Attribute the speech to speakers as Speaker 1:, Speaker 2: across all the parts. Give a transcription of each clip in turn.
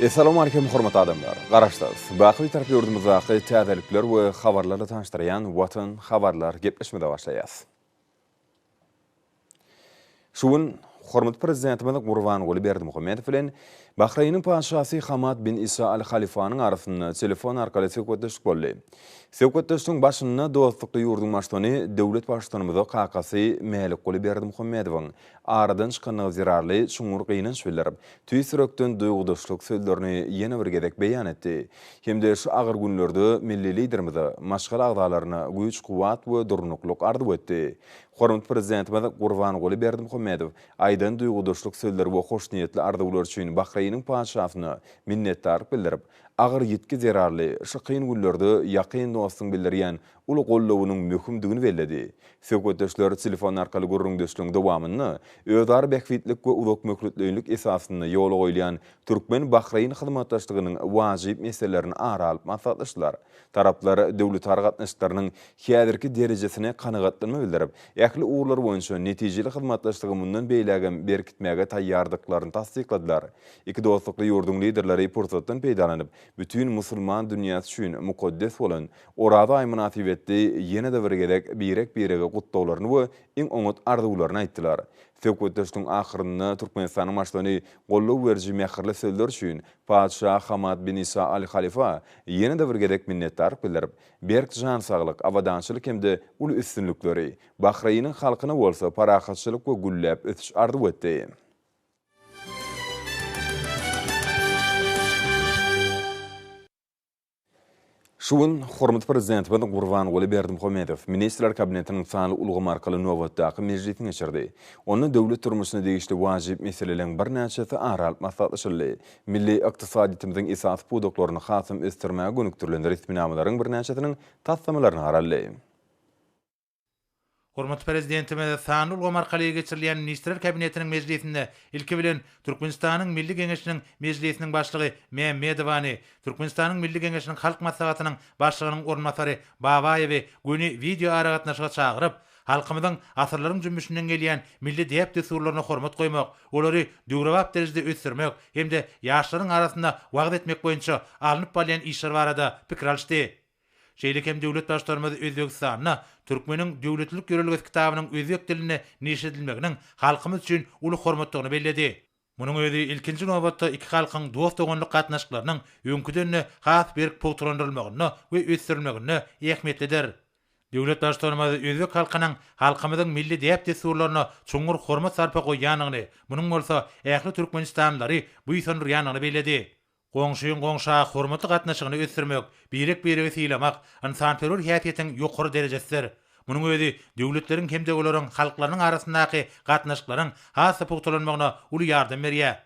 Speaker 1: Essalamu Aleýkum hormatly adamlar! Garaşsyz, baky Bitarap ýurdumyzdaky täzelikler we habarlarla tanyşdyrýan Watan habarlar gepleşmede başlaýas. Şu gün hormatly Prezidentimiz Gurbanguly Berdimuhamedow bilen Bahreýniň Patyşasy Hamad bin Isa Al Halifanyň arasynda telefon arkaly söhbetdeşlik boldy. Söhbetdeşligiň başynda dostlukly ýurduň Baştutany döwlet Baştutanymyza kakasy Mälikguly Berdimuhamedowyň Aradan çykandygy zerarly çuňňur gynanç bildirip, tüýs ýürekden duýgudaşlyk sözlerini ýene bir gezek beýan etdi hem-de şu agyr günlerde milli Liderimize, maşgala agzalaryna güýç-kuwwat we durnuklyk arzuw etdi. Hormatly Prezidentimiz Gurbanguly Berdimuhamedow aýdan duýgudaşlyk sözleri we hoşniýetli arzuwlar üçin Bahreýniň Patyşasyna minnetdarlyk bildirip, agyr ýitgi zerarly şu kyn günlerde ýakyn dostuň bildirýän uly goldawynyň möhümdigini belledi. Söhbetdeşler telefon arkaly gürrüňdeşligiň dowamynda özara bähbitlik we uzakmöhletleýinlik esasynda ýola goýulýan türkmen-bahreýn hyzmatdaşlygynyň wajyp meselelerini ara alyp maslahatlaşdylar. Taraplar döwletara gatnaşyklarynyň häzirki derejesine kanagatlanma bildirip, ähli ugurlar boýunça netijeli hyzmatdaşlygy mundan beýlägem berkitmäge taýýardyklaryny tassykladylar. Iki dostlukly ýurduň Liderleri pursatdan peýdalanyp, bütin musulman dünýäsi üçin mukaddes bolan Oraza aýy mynasybetli ýene-de bir gezek birek-birege gutlaglaryny we iň oňat arzuwlaryny aýtdylar. Söhbetdeşligiň ahyrynda Türkmenistanyň Başlygyny goldaw beriji mähirli sözler üçin Patyşa Hamad bin Isa Al Halifa ýene-de bir gezek minnetdarlyk bildirip, berk jan saglyk, abadançylyk hem-de uly üstünlikleri, Bahreýniň halkyna bolsa parahatçylyk we gülläp ösüş arzuw etdi. Şu gün hormatly Prezidentimiz Gurbanguly Berdimuhamedow Ministrler Kabinetiniň sanly ulgam arkaly nobatdaky mejlisini geçirdi. Onda döwlet durmuşyna degişli wajyp meseleleriň birnäçesi ara alyp maslahatlaşyldy. Milli ykdysadyýetimiziň esasy pudaklaryny hasam ösdürmäge gönükdirilen resminamalaryň birnäçesiniň taslamalaryna garaldy.
Speaker 2: Hormatly Prezidentimiz sanly ulgam arkaly geçirilýän Ministrler Kabinetiniň mejlisinde, ilki bilen, Türkmenistanyň Milli Geňeşiniň Mejlisiniň Başlygy Mämmedowany, Türkmenistanyň Milli Geňeşiniň Halk Maslahatynyň Başlygynyň orunbasary Babaýewi göni wideoaragatnaşyga çagyryp, halkymyzyň asyrlaryň jümmüşinden gelýän milli däp-dessurlaryna hormat goýmak, olary döwrebap derejede ösdürmek hem-de ýaşlaryň arasynda wagyz etmek boýunça alnyp barylýan işler barada pikir alyşdy. Şeýle hem döwlet Baştutanymyz Özbegistanda Türkmeniň döwletlilik ýörelgesi kitabynyň özbek dilinde neşir edilmeginiň halkymyz üçin uly hormatdygyny belledi. Munuň özi, ilkinji nobatda, iki halkyň dost-doganlyk gatnaşyklarynyň öňküden-de has berk pugtalandyrylmagynda we ösdürilmeginde ähmiýetlidir. Döwlet Baştutanymyz özbek halkynyň halkymyzyň milli däp-dessurlaryna çuňňur hormat-sarpa goýýandygyny, munuň bolsa ähli türkmenistanlylary buýsandyrýandygyny belledi. Goňşyň goňşa hormatly gatnaşygyny ösdürmek, birek-biregi sylamak ynsanperwer häsiýetiň ýokary derejesidir. Munuň özi döwletleriň hem-de olaryň halklarynyň arasyndaky gatnaşyklaryň has-da pugtalanmagyna uly ýardam berýär.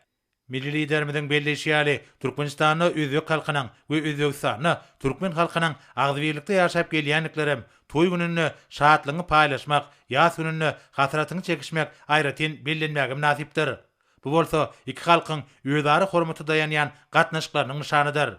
Speaker 2: Milli Liderimiziň belleýşi ýaly, Türkmenistanda özbek halkynyň we Özbegistanda türkmen halkynyň agzybirlikde ýaşap gelýändiklerem toý gününde şatlygyňy paýlaşmak, ýas gününde hasratyňy çekişmek aýratyn bellenmäge mynasypdyr. Bu bolsa iki halkyň özara hormata daýanýan gatnaşyklarynyň nyşanydyr.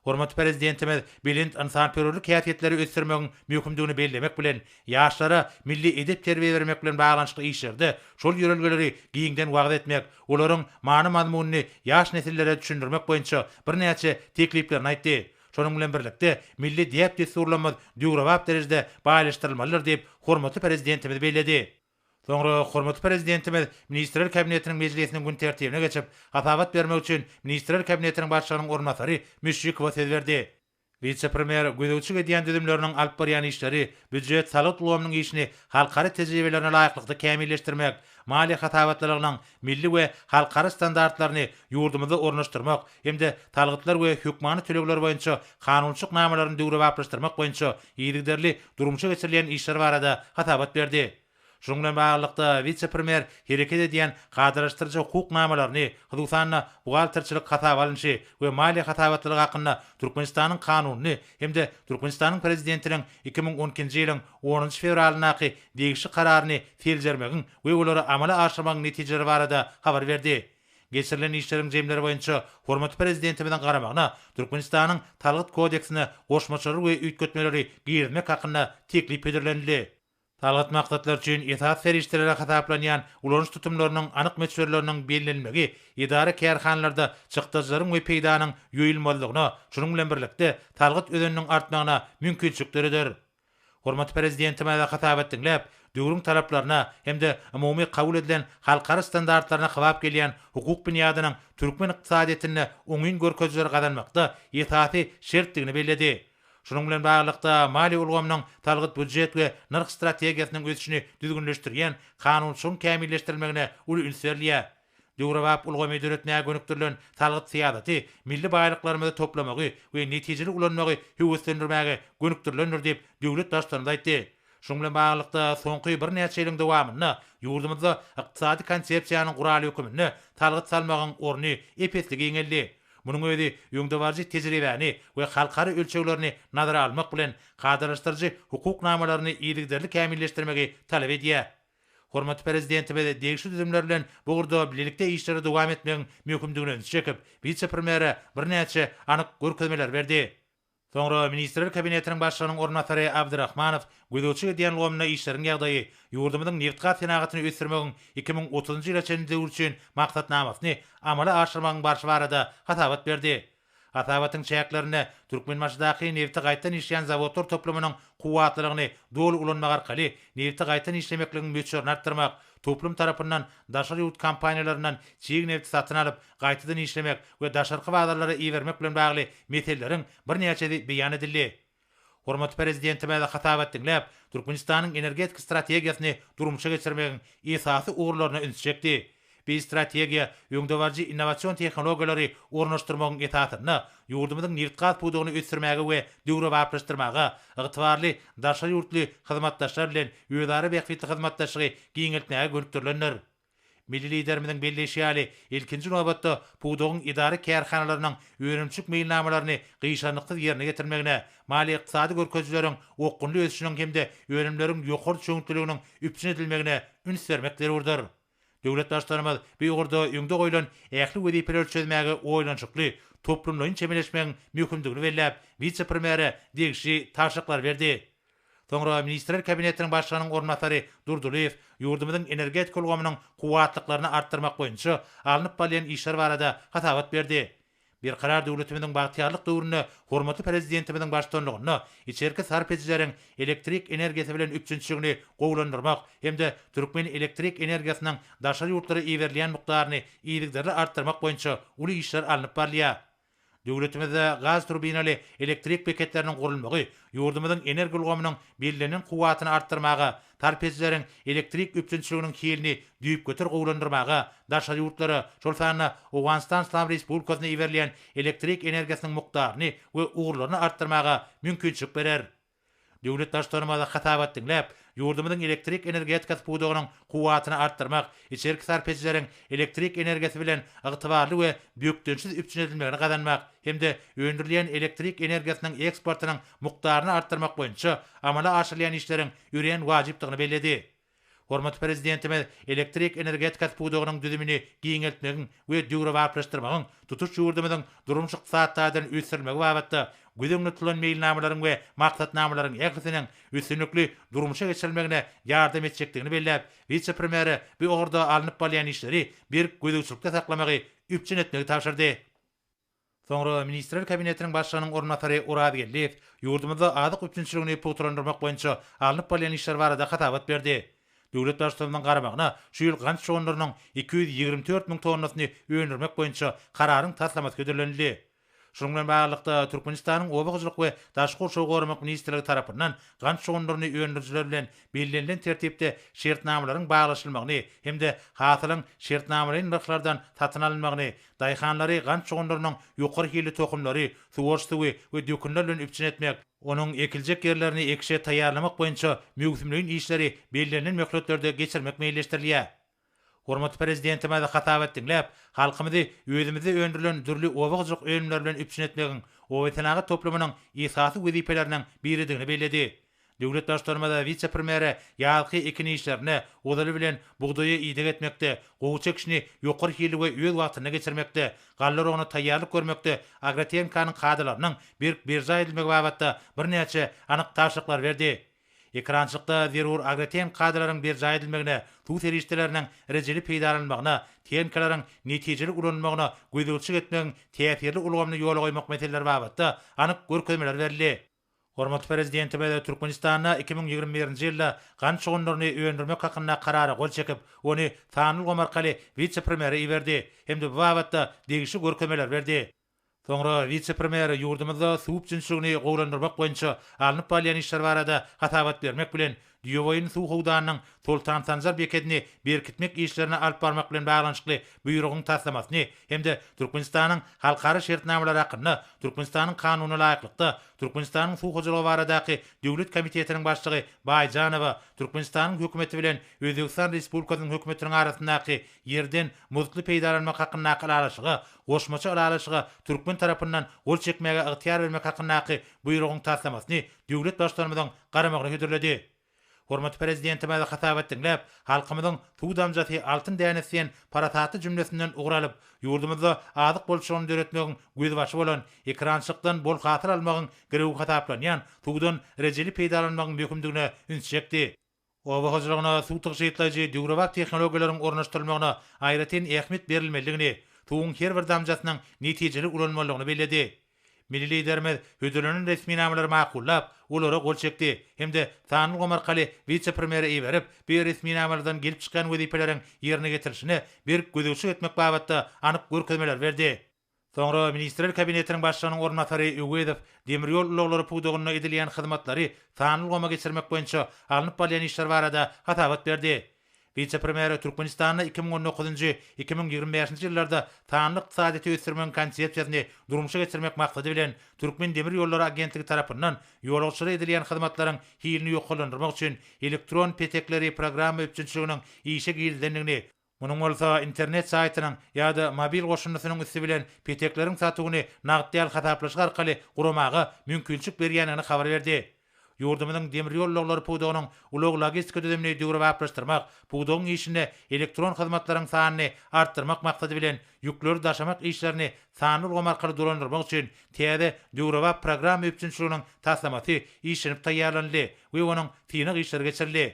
Speaker 2: Hormatly Prezidentimiz belent ynsanperwerlik häsiýetleri ösdürmegiň möhümdigini bellemek bilen, ýaşlara milli edep-terbiýe bermek bilen baglanyşykly işlerde şol ýörelgeleri giňden wagyz etmek, olaryň many-mazmunyny ýaş nesillere düşündirmek boýunça birnäçe tekliplerini aýtdy. Şonuň bilen birlikde, milli däp-dessurlarymyz döwrebap derejede baýlaşdyrylmalydyr diýip, hormatly Prezidentimiz belledi. Soňra hormatly Prezidentimiz Ministrler Kabinetiniň mejlisiniň gün tertibine geçip, hasabat bermek üçin Ministrler Kabinetiniň Başlygynyň orunbasary Müşşikowa söz berdi. Wise-premýer gözegçilik edýän düzümleriniň alyp barýan işleri, býujet, salgyt ulgamynyň işini halkara tejribelerine laýyklykda kämilleşdirmek, maliýe hasabatlylygynyň milli we halkara standartlaryny ýurdumyzda ornaşdyrmak hem-de salgytlar we hökmany tölegler boýunça kanunçylyk namalaryny döwrebaplaşdyrmak boýunça yzygiderli durmuşa geçirilýän işler barada hasabat berdi. Şunuň bilen baglylykda, wise-premýer hereket edýän kadalaşdyryjy hukuk namalaryny, hususan-da, buhgalterçilik hasaba alnyşy we maliýe hasabatlylygy hakynda Türkmenistanyň Kanunyny hem-de Türkmenistanyň Prezidentiniň iki müň on ikinji ýylyň onunjy fewralyndaky degişli Kararyny seljermegiň we olary amala aşyrmagyň netijeleri barada habar berdi. Geçirilen işleriň jemleri boýunça hormatly Prezidentimiziň garamagyna Türkmenistanyň Salgyt kodeksine goşmaçalar we üýtgetmeleri girizmek hakynda teklip hödürlenildi. Salgyt maksatlary üçin esasy serişdeleri hasaplanýan ulanyş tutumlarynyň anyk möçberleriniň bellenilmegi edara-kärhanalarda çykdajylaryň we peýdanyň ýoýulmazlygyna, şunuň bilen birlikde, salgyt özeniniň artmagyna mümkinçilik döreder. Hormatly Prezidentimize hasabat diňläp, döwrüň talaplaryna hem-de umumy kabul edilen halkara standartlaryna kybap gelýän hukuk binýadynyň türkmen ykdysadyýetinde oňyn görkezijileri gazanmakda esasy şertdigini belledi. Şunuň bilen baglylykda, maliýe ulgamynyň salgyt-býujet we nyrh strategiýasynyň ösüşini düzgünleşdirýän kanunçylygyň kämilleşdirilmegine uly üns berilýär. Döwrebap ulgamy döretmäge gönükdirilen salgyt syýasaty milli baýlyklarymyzy toplamagy we netijeli ulanmagy höweslendirmäge gönükdirilendir diýip, döwlet Baştutanymyz aýtdy. Şunuň bilen baglylykda, soňky birnäçe ýylyň dowamynda ýurdumyzda ykdysady konsepsiýanyň guraly höküminde salgyt salmagyň orny ep-esli giňeldi. Munuň özi öňdebaryjy tejribäni we halkara ölçeglerini nazara almak bilen, kadalaşdyryjy hukuk namalaryny yzygiderli kämilleşdirmegi talap edýär. Hormatly Prezidentimiz degişli düzümler bilen bu ugurda bilelikde işleri dowam etmegiň möhümdigine ünsi çekip, wise-premýere birnäçe anyk görkezmeleri berdi. Soňra Ministrler Kabinetiniň Başlygynyň orunbasary Abdyrahmanow gözegçilik edýän lomunda işleriň ýagdaýy, ýurdumyzyň nebitgaz senagatyny ösdürmegiň iki müň otuzynjy ýyla çenli döwri üçin maksatnamasyny amala aşyrmagyň barşy barada hasabat berdi. Hasabatyň çäklerinde Türkmenbaşydaky nebiti gaýtadan işleýän zawodlar toplumynyň kuwwatlylygyny doly ulanmak arkaly nebiti gaýtadan işlemekligiň möçberini artdyrmak, toplum tarapyndan daşary ýurt kompaniýalaryndan çig nebiti satyn alyp, gaýtadan işlemek we daşarky bazarlara ibermek bilen bagly meseleleriň birnäçesi beýan edildi. Hormatly Prezidentimize hasabat diňläp, Türkmenistanyň energetika strategiýasyny durmuşa geçirmegiň esasy ugurlaryna üns çekdi. Biz strategiýa öňdebaryjy innowasion tehnologiýalary ornaşdyrmagyň esasynda ýurdumyzyň nebitgaz pudagyny ösdürmäge we döwrebaplaşdyrmaga, ygtybarly daşary ýurtly hyzmatdaşlar bilen özara bähbitli hyzmatdaşlygy giňeltmäge gönükdirilendir. Milli Liderimiziň belleýşi ýaly, ilkinji nobatda, pudagyň edara-kärhanalarynyň önümçilik meýilnamalaryny gyşarnyksyz ýerine ýetirmegine, maliýe-ykdysady görkezijileriň okgunly ösüşiniň hem-de önümleriň ýokary çöňütliliginiň üpjün edilmegine üns bermek zerurdyr. Döwlet Baştutanymyz bu ugurda öňde goýlan ähli wezipeleri çözmäge oýlanyşykly, toplumlaýyn çemeleşmegiň möhümdigini belläp, wise-premýere degişli tabşyryklary berdi. Soňra Ministrler Kabinetiniň Başlygynyň orunbasary Durdylyýew ýurdumyzyň energetika ulgamynyň kuwwatlyklaryny artdyrmak boýunça alnyp barylýan işler barada hasabat berdi. Berkarar döwletimiziň bagtyýarlyk döwründe hormatly Prezidentimiziň baştutanlygynda içerki sarp edijileriň elektrik energiýasy bilen üpjünçiligini gowulandyrmak hem-de türkmen elektrik energiýasynyň daşary ýurtlara iberilýän mukdaryny yzygiderli artdyrmak boýunça uly işler alnyp barylýar. Döwletimizde gaz turbinaly elektrik beketleriniň gurulmagy ýurdumyzyň energoulgamynyň bellenen kuwwatyny artdyrmaga, tarp edijileriň elektrik üpjünçiliginiň hilini düýpgöter gowulandyrmaga, daşary ýurtlara, şol sanda Owganystan Yslam Respublikasyna iberilýän elektrik energiýasynyň mukdaryny we ugurlaryny artdyrmaga mümkinçilik berer. Döwlet Baştutanymyza hasabat diňläp, ýurdumyzyň elektrik energetikasy pudagynyň kuwwatyny artdyrmak, içerki sarp edijileriň elektrik energiýasy bilen ygtybarly we bökdençsiz üpjün edilmegini gazanmak hem-de öndürilýän elektrik energiýasynyň eksportynyň mukdaryny artdyrmak boýunça amala aşyrylýan işleriň örän wajypdygyny belledi. Hormatly Prezidentimiz elektrik energetikasy pudagynyň düzümini giňeltmegiň we döwrebaplaşdyrmagyň tutuş ýurdumyzyň durmuş-ykdysady taýdan ösdürilmegi babatda göz öňünde tutulan meýilnamalaryň we maksatnamalaryň ählisiniň üstünlikli durmuşa geçirilmegine ýardam etjekdigini belläp, wise-premýere bu ugurda alnyp barylýan işleri berk gözegçilikde saklamagy üpjün etmegi tabşyrdy. Soňra Ministrler Kabinetiniň Başlygynyň orunbasary Oraz Geldiýew ýurdumyzda azyk üpjünçiligini pugtalandyrmak boýunça alnyp barylýan işler barada hasabat berdi. Döwlet Baştutanymyzyň garamagyna şu ýyl gant şonlarynyň iki ýüz ýigrimi dört müň tonnasyny öndürmek boýunça kararyň taslamasy hödürlenildi. Şunuň bilen baglylykda, Türkmenistanyň Oba hojalyk we daşky gurşawy goramak ministrligi tarapyndan gant şonlaryny öndürijiler bilen bellenilen tertipde şertnamalaryň baglaşylmagyny hem-de hasylyň şertnamalaýyn nyrhlardan satyn alynmagyny Daýhanlary gant çoganlarynyň ýokary hilli tohumlary, suwaryş suwy we dökünler bilen üpjün etmek, onuň ekiljek ýerlerini ekişe taýýarlamak boýunça möwsümleýin işleri bellenilen möhletlerde geçirmek meýilleşdirilýär. Hormatly Prezidentimiz hasabat diňläp, halkymyzy özümizde öndürilen dürli oba hojalyk önümleri bilen üpjün etmegiň obasenagat toplumynyň esasy wezipeleriniň biridigini belledi. Döwlet Baştutanymyz wise-premýere ýazky ekin işlerine, ozaly bilen, bugdaýa ideg etmekde, gowy çekişini ýokary hilli we öz wagtynda geçirmekde, galla rogyna taýýarlyk görmekde agrotehnikanyň kadalarynyň berk berjaý edilmegi babatda birnäçe anyk tabşyryklary berdi. Ekrançylykda zerur agrotehniki kadalaryň berjaý edilmegine, suw serişdeleriniň rejeli peýdalanylmagyna, tehnikalaryň netijeli ulanylmagyna gözegçilik etmegiň täsirli ulgamyny ýola goýmak meseleleri babatda anyk görkezmeler berildi. Hormatly Prezidentimiz Türkmenistanda iki müň ýigrimi birinji ýylda gant çugunlaryny öndürmek hakynda karara gol çekip, ony sanylgam arkaly wise-premýere iberdi hem-de bu babatda degişli görkezmeler berdi. Soňra wise-premýer ýurdumyzda suw üpjünçiligini gowulandyrmak boýunça alnyp barylýan işler barada hasabat bermek bilen, Düýeboýun suw howdanynyň Soltan Sanjar bekedini berkitmek işlerini alyp barmak bilen baglanyşykly Buýrugyň taslamasyny hem-de Türkmenistanyň halkara şertnamalary hakynda Türkmenistanyň Kanunyna laýyklykda Türkmenistanyň Suw hojalygy baradaky döwlet komitetiniň başlygy Baýjanowa Türkmenistanyň Hökümeti bilen Özbegistan Respublikasynyň Hökümetiniň arasyndaky ýerden muztly peýdalanmak hakyndaky ylalaşyga goşmaça ylalaşyga türkmen tarapyndan gol çekmäge ygtyýar bermek hakyndaky Buýrugyň taslamasyny döwlet Baştutanymyzyň garamagyny hödürledi. Hormatly Prezidentimiz hasabat diňläp, halkymyzyň Suw damjasy, altyn dänesi diýen parasatly jümlesinden ugur alyp, ýurdumyzda azyk bolçulygyny döretmegiň gözbaşy bolan, ekerançylykdan bol hasyl almagyň girewi hasaplanýan suwdan rejeli peýdalanmagyň möhümdigine üns çekdi. Oba hojalygyna suw tygşytlaýjy döwrebap tehnologiýalaryň ornaşdyrylmagyna aýratyn ähmiýet berilmelidigini, suwuň her bir damjasynyň netijeli ulanylmalydygyny belledi. Milli Liderimiz hödürlenen resminamalary makullap, olara gol çekdi hem-de sanly ulgam arkaly wise-premýere iberip, bu resminamalardan gelip çykýan wezipeleriň ýerine getirilişine berk gözegçilik etmek babatda anyk görkezmeler berdi. Soňra Ministrler Kabinetiniň Başlygynyň orunbasary Öwezow demir ýol ulaglary pudagynda edilýän hyzmatlary sanly ulgama geçirmek boýunça alnyp barylýan işler barada hasabat berdi. Wise-premýer Türkmenistanda iki müň on dokuzynjy, iki müň ýigrimi bäşinji ýyllarda sanly ykdysadyýeti ösdürmegiň konsepsiýasyny durmuşa geçirmek maksady bilen Türkmen demir ýollary agentligi tarapyndan ýolagçylara edilýän hyzmatlaryň hilini ýokarlandyrmak üçin elektron petekleri programma üpjünçiliginiň işe girizilendigini Munuň bolsa internet saýtynyň ýa-da mobil goşundysynyň üsti bilen petekleriň satuwyny nagt däl hasaplaşyk arkaly guramaga mümkinçilik berýändigini habar berdi. Ýurdumyzyň demir ýol ulaglary pudagynyň ulag-logistika düzümini döwrebaplaşdyrmak, pudagyň işinde elektron hyzmatlaryň sanyny artdyrmak maksady bilen, ýükleri daşamak işlerini sanly ulgam arkaly dolandyrmak üçin täze döwrebap programma üpjünçiliginiň taslamasy işlenip taýýarlanyldy we onuň synag işleri geçirildi.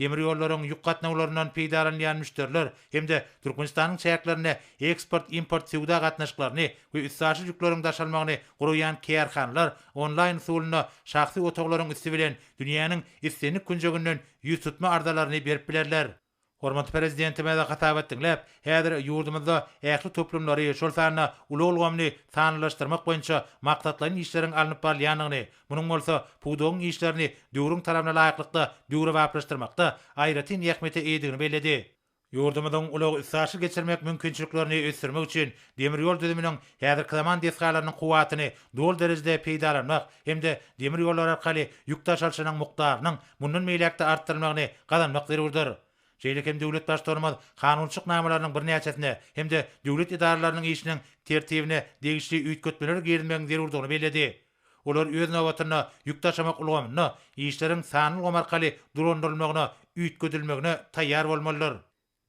Speaker 2: demir ýollaryň ýük gatnawlaryndan peýdalanylýan müşderiler hem-de Türkmenistanyň çäklerinde eksport-import söwda gatnaşyklaryny we üstaşyr ýükleriň daşalmagyny guraýan kärhanalar onlaýn-usulynda şahsy otaglaryň üsti bilen dünýäniň islendik künjeginden ýüztutma arzalaryny berip bilerler. Hormatly Prezidentimiz hasabat diňläp, häzir ýurdumyzda ähli toplumlary, şol sanda ulag ulgamyny sanlylaşdyrmak boýunça maksatlaýyn işleriň alnyp barylýandygyny, Munuň bolsa pudagyň işlerini döwrüň talabyna laýyklykda döwrebaplaşdyrmakda aýratyn ähmiýete eýedigini belledi. Ýurdumyzyň ulag-üstaşyr geçirmek mümkinçiliklerini ösdürmek üçin demir ýol düzüminiň häzirki zaman desgalarynyň kuwwatyny doly derejede peýdalanmak hem-de demir ýollar arkaly ýük daşalyşynyň mukdarynyň mundan beýläk-de artdyrylmagyny gazanmak zerurdyr. Şeýle hem döwlet Baştutanymyz kanunçylyk namalarynyň birnäçesine hem-de döwlet edaralarynyň işiniň tertibine degişli üýtgetmeler girizmegiň zerurdygyny belledi. Olar öz nobatynda ýük daşamak ulgamynda işleriň sanly ulgam arkaly dolandyrylmagyna üýtgedilmegine taýýar bolmalydyr.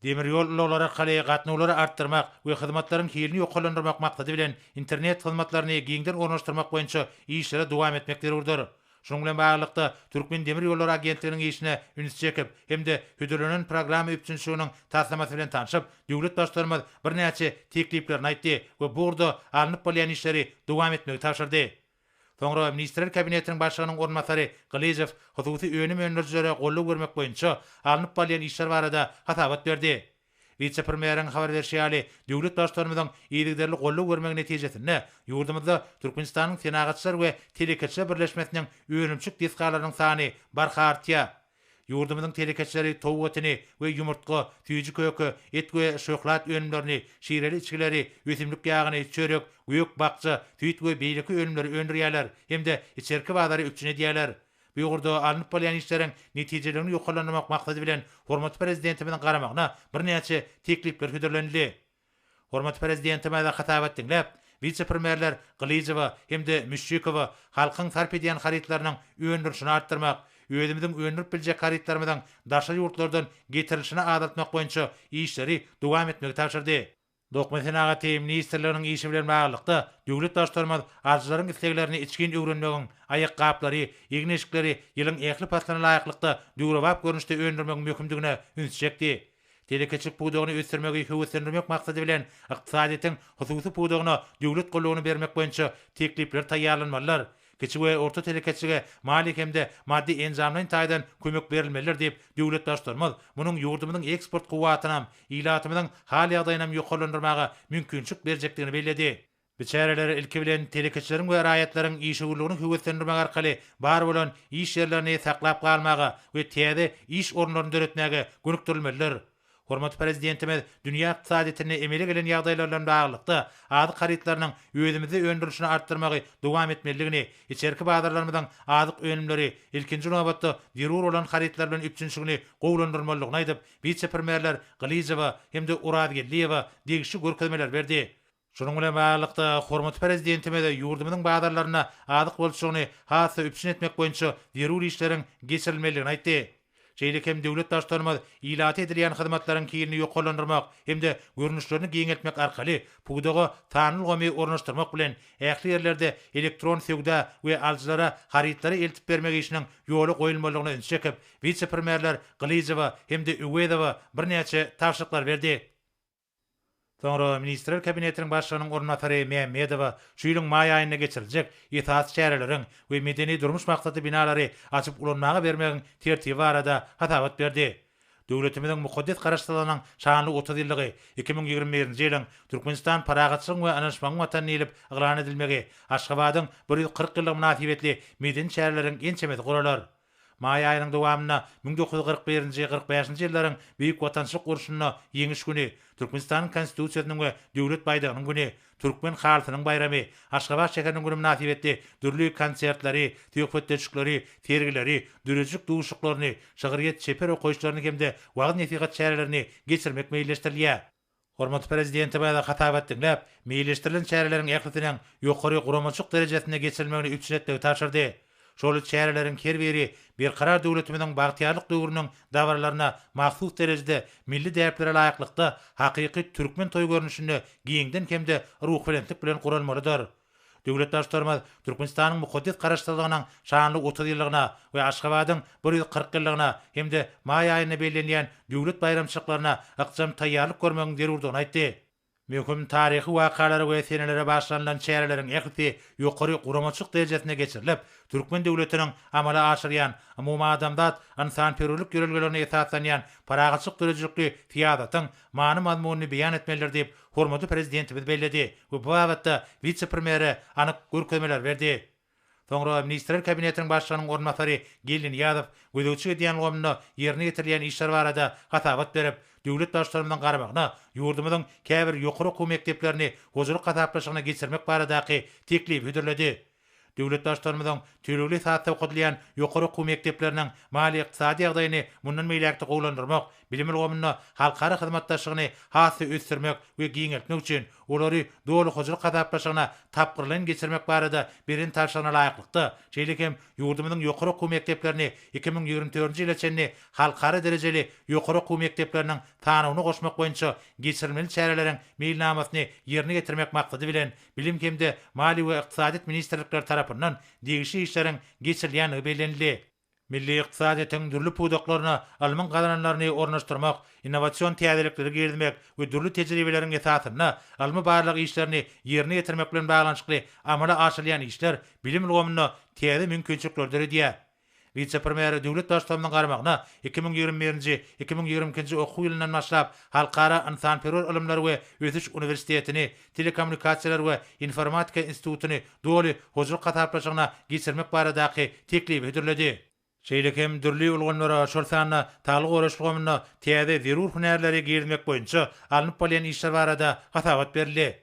Speaker 2: Demir ýol ulaglary arkaly gatnawlary artdyrmak we hyzmatlaryň hilini ýokarlandyrmak maksady bilen internet hyzmatlaryny giňden ornaşdyrmak boýunça işlere dowam etmek zerurdyr. Şunuň bilen baglylykda, Türkmendemirýollary agentliginiň işine üns çekip hem-de hödürlenen programma üpjünçiliginiň taslamasy bilen tanşyp, Döwlet Baştutanymyz birnäçe tekliplerini aýtdy we bu ugurda alnyp barylýan işleri dowam etmegi tabşyrdy. Soňra Ministrler Kabinetiniň Başlygynyň orunbasary Gylyjow hususy önüm öndürijilere goldaw bermek boýunça alnyp barylýan işler barada hasabat berdi. Wise-premýeriň habar berşi ýaly, döwlet Baştutanymyzyň yzygiderli goldaw bermegi netijesinde, ýurdumyzda Türkmenistanyň Senagatçylar we telekeçiler birleşmesiniň önümçilik desgalarynyň sany barha artýar. Ýurdumyzyň telekeçileri towuk etini we ýumurtga, süýji köke, et we şöhlat önümlerini, şireli içgileri, ösümlik ýagyny, çörek, gök-bakja, süýt we beýleki önümleri öndürýärler hem-de içerki bazary üpjün edýärler. Bu ugurda alnyp bolýan işleriň netijeligini ýokarlandyrmak maksady bilen hormatly Prezidentimiziň garamagyna birnäçe teklipler hödürlenildi. Hormatly Prezidentimize hasabat diňläp, wise-premýerler Gylyjowa hem-de Müşşikowa halkyň sarp edýän harytlarynyň öndürilişini artdyrmak, özümiziň öndürip biljek harytlarymyzyň daşary ýurtlardan getirilişini azaltmak boýunça işleri dowam etmegi tabşyrdy. Dokma senagaty ministrliginiň işi bilen baglylykda, döwlet Baştutanymyz alyjylaryň isleglerini içgin öwrenmegiň, aýakgaplary, egin-eşikleri ýylyň ähli paslyna laýyklykda döwrebap görnüşde öndürmegiň möhümdigine üns çekdi. Telekeçilik pudagyny ösdürmegi höweslendirmek maksady bilen, ykdysadyýetiň hususy pudagyna döwlet goldawyny bermek boýunça teklipler taýýarlanmalydyr. Kiçi we orta telekeçilige maliýe hem-de maddy-enjamlaýyn taýdan kömek berilmelidir diýip, döwlet Baştutanymyz munuň ýurdumyzyň eksport kuwwatynam, ilatymyzyň hal-ýagdaýynam ýokarlandyrmaga mümkinçilik berjekdigini belledi. Bu çäreler, ilki bilen, telekeçileriň we raýatlaryň işewürligini höweslendirmek arkaly bar bolan iş ýerlerini saklap galmaga we täze iş orunlaryny döretmäge gönükdirilmelidir. Hormatly Prezidentimiz dünýä ykdysadyýetinde emele gelen ýagdaýlar bilen baglylykda, azyk harytlarynyň özümizde öndürilişini artdyrmagy dowam etmelidigini, içerki bazarlarymyzyň azyk önümleri, ilkinji nobatda, zerur bolan harytlar bilen üpjünçiligini gowulandyrmalydygyny aýdyp, wise-premýerler Gylyjowa hem-de Orazgeldiýewa degişli görkezmeler berdi. Şunuň bilen baglylykda, hormatly Prezidentimiz ýurdumyzyň bazarlarynda azyk bolçulygyny has-da üpjün etmek boýunça zerur işleriň geçirilmelidigini aýtdy. Şeýle hem döwlet Baştutanymyz ilata edilýän hyzmatlaryň hilini ýokarlandyrmak hem-de görnüşlerini giňeltmek arkaly pudaga sanly ulgamy ornaşdyrmak bilen, ähli ýerlerde elektron söwda we alyjylara harytlary eltip bermek işiniň ýola goýulmalydygyna ünsi çekip, wise-premýerler Gylyjowa hem-de Öwezowa birnäçe tabşyryklar berdi. Soňra Ministrler Kabinetiniň Başlygynyň orunbasary Mämmedowa şu ýylyň maý aýynda geçiriljek esasy çäreleriň we medeni-durmuş maksatly binalary açyp ulanmaga bermegiň tertibi barada hasabat berdi. Döwletimiziň mukaddes Garaşsyzlygynyň şanly otuz ýyllygy iki müň ýigrimi birinji ýylyň Türkmenistan parahatçylygyň we ynanyşmagyň watany diýlip yglan edilmegi, Aşgabadyň bir ýüz kyrk ýyllygy mynasybetli medeni çäreleriň ençemesi guralar. Maý aýynyň dowamynda müň dokuz ýüz kyrk birinji, kyrk bäşinji ýyllaryň Beýik Watançylyk urşunda Ýeňiş güni, Türkmenistanyň Konstitusiýasynyň we Döwlet baýdagynyň güni, Türkmen halysynyň baýramy, Aşgabat şäheriniň güni mynasybetli dürli konsertleri, söhbetdeşlikleri, sergileri, döredijilik duşuşyklaryny, şygyrýet-çeper okaýyşlaryny hem-de wagyz-nesihat çärelerini geçirmek meýilleşdirilýär. Hormatly Prezidentimize hasabat diňläp, meýilleşdirilen çäreleriň ählisiniň ýokary guramaçylyk derejesinde geçirilmegini üpjün etmegi tabşyrdy. Şol çäreleriň her biri Berkarar döwletimiziň bagtyýarlyk döwrüniň dabaralaryna mahsus derejede milli däplere laýyklykda hakyky türkmen toý görnüşinde giňden hem-de ruhubelentlik bilen guralmalydyr. Döwlet Baştutanymyz Türkmenistanyň mukaddes Garaşsyzlygynyň şanly otuz ýyllygyna we Aşgabadyň bir ýüz kyrk ýyllygyna hem-de maý aýynda bellenilýän döwlet baýramçylyklaryna ykjam taýýarlyk görmegiň zerurdygyny aýtdy. Möhüm taryhy wakalara we senelere bagyşlanylan çäreleriň ählisi ýokary guramaçylyk derejesinde geçirilip, türkmen döwletiniň amala aşyrýan umumadamzat ynsanperwerlik ýörelgelerine esaslanýan parahatçylyk döredijilikli syýasatyň many-mazmunyny beýan etmelidir diýip, hormatly Prezidentimiz belledi we bu babatda wise-premýere anyk görkezmeler berdi. Soňra Ministrler Kabinetiniň Başlygynyň orunbasary Geldi Nyýazow gözegçilik edýän ulgamynda ýerine ýetirilýän işler barada hasabat berip, döwlet Baştutanymyzyň garamagyna ýurdumyzyň käbir ýokary okuw mekdeplerini hojalyk hasaplaşygyna geçirmek baradaky teklibi hödürledi. Döwletdaşlarymyzyň tölegli esasda okadylýan ýokary okuw mekdepleriniň maliýe-ykdysady ýagdaýyny mundan beýläk-de gowulandyrmak, bilim ulgamynda halkara hyzmatdaşlygyny has-da ösdürmek we giňeltmek üçin olary doly hojalyk hasaplaşygyna tapgyrlaýyn geçirmek barada beren tabşyrygyna laýyklykda, şeýle hem ýurdumyzyň ýokary okuw mekdeplerini iki müň ýigrimi dördünji ýyla çenli halkara derejeli ýokary okuw mekdepleriniň sanawyna goşmak boýunça geçirilmeli çäreleriň meýilnamasyny ýerine ýetirmek maksady bilen Bilim hem-de Maliýe we Ykdysadyýet ministrlikleri tarapyndan degişli işleriň geçirilýändigi bellenildi. Milli ykdysadyýetiň dürli pudaklaryna ylmyň gazananlaryny ornaşdyrmak, innowasion täzelikleri girizmek we dürli tejribeleriň esasynda ylmy-barlag işlerini ýerine ýetirmek bilen baglanyşykly amala aşyrylýan işler bilim ulgamynda täze mümkinçilikleri döredýär. Wise-premýere döwlet Baştutanymyzyň garamagyna iki müň ýigrimi birinji, iki müň ýigrimi ikinji okuw ýylyndan başlap Halkara ynsanperwer ylymlar we ösüş uniwersitetini, Telekommunikasiýalar we informatika institutyny doly hojalyk hasaplaşygyna geçirmek baradaky teklibi hödürledi. Şeýle hem dürli ulgamlara, şol sanda saglygy goraýyş ulgamyna täze zerur hünärleri girizmek boýunça alnyp barylýan işler barada hasabat berildi.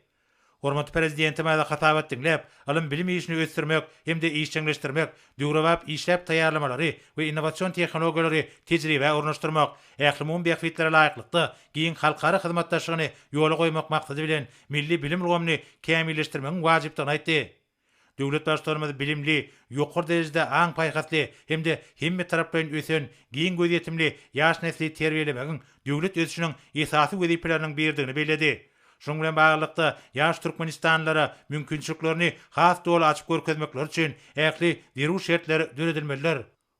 Speaker 2: Hormatly Prezidentimize hasabat diňläp, ylym-bilim işini ösdürmek hem-de işjeňleşdirmek, döwrebap işläp taýýarlamalary we innowasion tehnologiýalary tejribä ornaşdyrmak, ählumumy bähbitlere laýyklykda, giň halkara hyzmatdaşlygyny ýola goýmak maksady bilen, milli bilim ulgamyny kämilleşdirmegiň wajypdygyny aýtdy. Döwlet Baştutanymyz bilimli, ýokary derejede aň-paýhasly hem-de hemmetaraplaýyn ösen, giň gözýetimli ýaş nesli terbiýelemegiň döwlet ösüşiniň esasy wezipeleriniň biridigini belledi. Şunuň bilen baglylykda, ýaş türkmenistanlylara mümkinçiliklerini has doly açyp görkezmekleri üçin ähli zerur şertler döredilmelidir.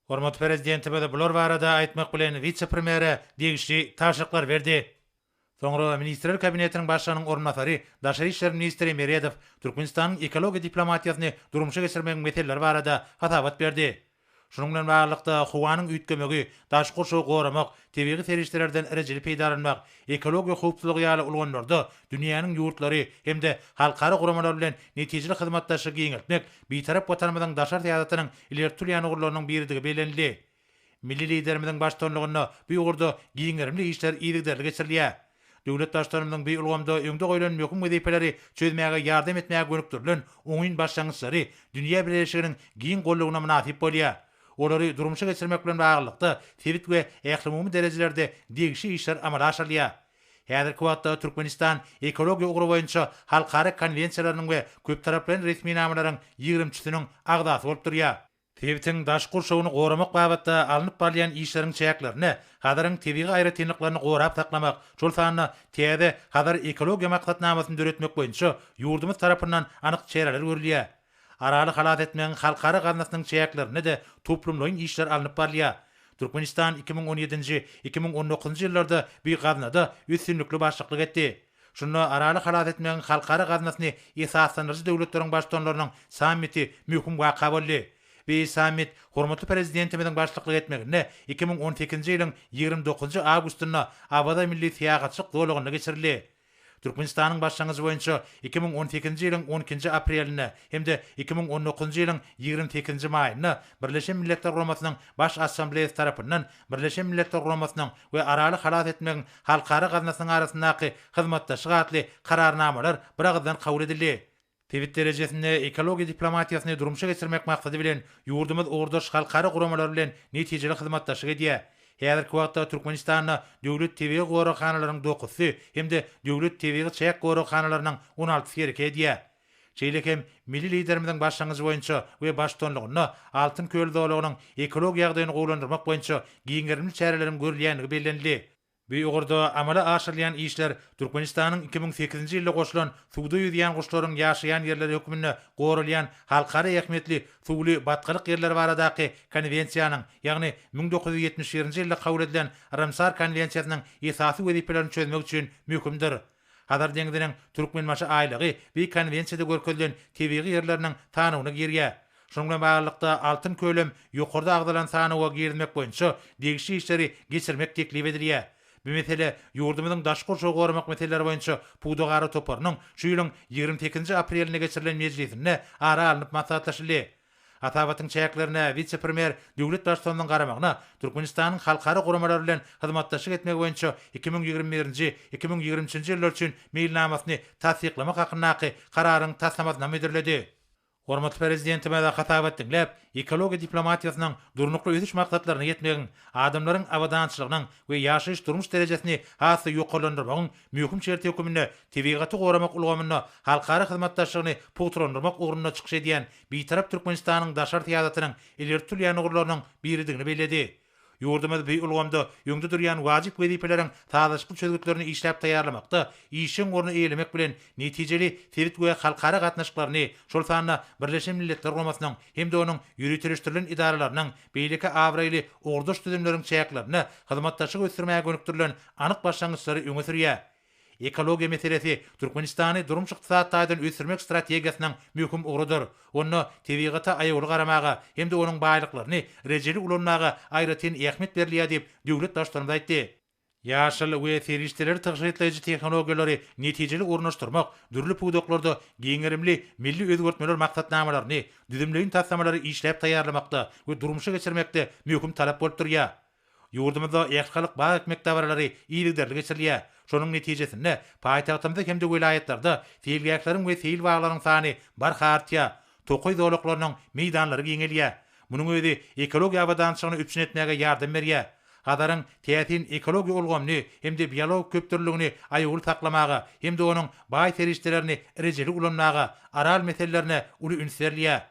Speaker 2: Hormatly Prezidentimiz bular barada aýtmak bilen wise-premýere degişli tabşyryklar berdi. Soňra Ministrler Kabinetiniň Başlygynyň orunbasary, daşary işler ministri Meredow Türkmenistanyň ekologiýa diplomatiýasyny durmuşa geçirmegiň meseleleri barada hasabat berdi. Şunuň bilen baglylykda, howanyň üýtgemegi, daşky gurşawy goramak, tebigy serişdelerden rejeli peýdalanmak, ekologiýa howpsuzlygy ýaly ulgamlarda dünýäniň ýurtlary hem-de halkara guramalary bilen netijeli hyzmatdaşlygy giňeltmek Bitarap Watanymyzyň daşary syýasatynyň ileri tutulýan ugurlarynyň biridigi bellenildi. Milli Liderimiziň baştutanlygynda bu ugurda giň gerimli işler yzygiderli geçirilýär. Döwlet Baştutanymyzyň bu ulgamda öňde goýlan möhüm wezipeleri çözmäge ýardam etmäge gönükdirilen oňyn başlangyçlary dünýä bileleşiginiň giň goldawyna mynasyp bolýar. Olary durmuşa geçirmek bilen baglylykda, sebit we ählumumy derejelerde degişli işler amala aşyrylýar. Häzirki wagtda Türkmenistan ekologiýa ugry boýunça halkara konwensiýalarynyň we köptaraplaýyn resminamalaryň ýigrimçisiniň agzasy bolup durýar. Sebitiň daş gurşawyny goramak babatda alnyp barylýan işleriň çäklerinde Hazaryň tebigy aýratynlyklaryny gorap saklamak, şol sanda täze Hazar ekologiýa maksatnamasyny döretmek boýunça ýurdumyz tarapyndan anyk çäreler görülýär. Araly halas etmegiň halkara gaznasynyň çäklerinde-de toplumlaýyn işler alnyp barylýar. Türkmenistan iki müň on ýedinji, iki müň on dokuzynjy ýyllarda bu gaznada üstünlikli başlyklyk etdi. Şunda Araly halas etmegiň halkara gaznasyny esaslandyryjy döwletleriň baştutanlarynyň sammiti möhüm waka boldy. Bi sammit hormatly Prezidentimiziň başlyklyk etmeginde iki müň on sekizinji ýylyň ýigrimi dokuzynjy awgustynda Awaza milli syýahatçylyk zolagynda geçirildi. Türkmenistanyň başlangyjy boýunça iki müň on sekizinji ýylyň on ikinji aprelinde hem-de iki müň on dokuzynjy ýylyň ýigrimi sekizinji maýynda Birleşen Milletler Guramasynyň Baş Assambleýasy tarapyndan Birleşen Milletler Guramasynyň we Araly halas etmegiň halkara gaznasynyň arasyndaky hyzmatdaşlyk atly Kararnamalar biragyzdan kabul edildi. Sebit derejesinde ekologiýa diplomatiýasyny durmuşa geçirmek maksady bilen, ýurdumyz ugurdaş halkara guramalar bilen netijeli hyzmatdaşlyk edýär. Häzirki wagtda Türkmenistanda döwlet tebigy goraghanalaryň dokuzysy hem-de döwlet tebigy çäk goraghanalarynyň on altysy hereket edýär. Şeýle hem milli Liderimiziň başlangyjy boýunça we baştutanlygynda Altyn köl zolagynyň ekologik ýagdaýyny gowulandyrmak boýunça giň gerimli çäreleriň görülýändigi bellenildi. Bu ugurda amala aşyrylýan işler Türkmenistanyň iki müň sekizinji ýylda goşulan Suwda ýüzýän guşlaryň ýaşaýan ýerleri hökmünde goralýan halkara ähmiýetli suwly batgalyk ýerleri baradaky Konwensiýanyň, ýagny müň dokuz ýüz ýetmiş birinji ýylda kabul edilen Ramsar konwensiýasynyň esasy wezipelerini çözmek üçin möhümdir. Hazar deňziniň Türkmenbaşy aýlagy bi konwensiýada görkezilen tebigy ýerleriniň sanawyna girýär. Şunuň bilen baglylykda Altyn kölem ýokarda agzalan sanawa girizmek boýunça degişli işleri geçirmek teklip edilýär. Bu mesele ýurdumyzyň daşky gurşawy goramak meseleleri boýunça pudagara toparynyň şu ýylyň ýigrimi sekizinji aprelinde geçirilen mejlisinde ara alnyp maslahatlaşyldy. Hasabatyň çäklerine wise-premýer döwlet baştutanynyň garamagyna Türkmenistanyň halkara guramalary bilen hyzmatdaşlyk etmegi boýunça iki müň ýigrimi birinji, iki müň ýigrimi üçünji ýyllar üçin meýilnamasyny tassyklamak hakyndaky Kararyň taslamasynam hödürledi. Hormatly Prezidentimize hasabat diňläp, ekologiýa diplomatiýasynyň durnukly ösüş maksatlaryna ýetmegiň, adamlaryň abadançylygynyň we ýaşaýyş-durmuş derejesini has-da ýokarlandyrmagyň Möhüm şert höküminde tebigaty goramak ulgamynda halkara hyzmatdaşlygyny pugtalandyrmak ugrunda çykyş edýän Bitarap Türkmenistanyň daşary syýasatynyň ileri tutulýan ugurlarynyň biridigini belledi. Ýurdumyz bu ulgamda öňde durýan wajyp wezipeleriň sazlaşykly çözgütlerini işläp taýýarlamakda işjeň orny eýelemek bilen, netijeli sebit we halkara gatnaşyklaryny, şol sanda Birleşen Milletler Guramasynyň hem-de onuň ýöriteleşdirilen edaralarynyň, beýleki abraýly ugurdaş düzümleriň çäklerinde hyzmatdaşlygy ösdürmäge gönükdirilen anyk başlangyçlary öňe sürýär. Ekologiýa meselesi Türkmenistany durmuş-ykdysady taýdan ösdürmek strategiýasynyň möhüm ugrudyr. Onda tebigata aýawly garamaga hem-de onuň baýlyklaryny rejeli ulanmaga aýratyn ähmiýet berilýär diýip, döwlet Baştutanymyz aýtdy. Ýaşyl we serişdeleri tygşytlaýjy tehnologiýalary netijeli ornaşdyrmak, dürli pudaklarda giň gerimli milli özgertmeler maksatnamalaryny, düzümleýin taslamalary işläp taýýarlamakda we durmuşa geçirmekde möhüm talap bolup durýar. Ýurdumyzda Ählihalk bag ekmek dabaralary yzygiderli geçirilýär. Şonuň netijesinde, paýtagtymyzda hem-de welaýatlarda seýilgähleriň we seýil baglarynyň sany barha artýar, tokaý zolaklarynyň meýdanlary giňelýär. Munuň özi ekologiýa abadançylygyny üpjün etmäge ýardam berýär. Hazaryň täsin ekologiýa ulgamyny hem-de biologik köpdürlüligini aýawly saklamaga hem-de onuň baý serişdelerini rejeli ulanmaga Aral meselelerine uly üns berilýär.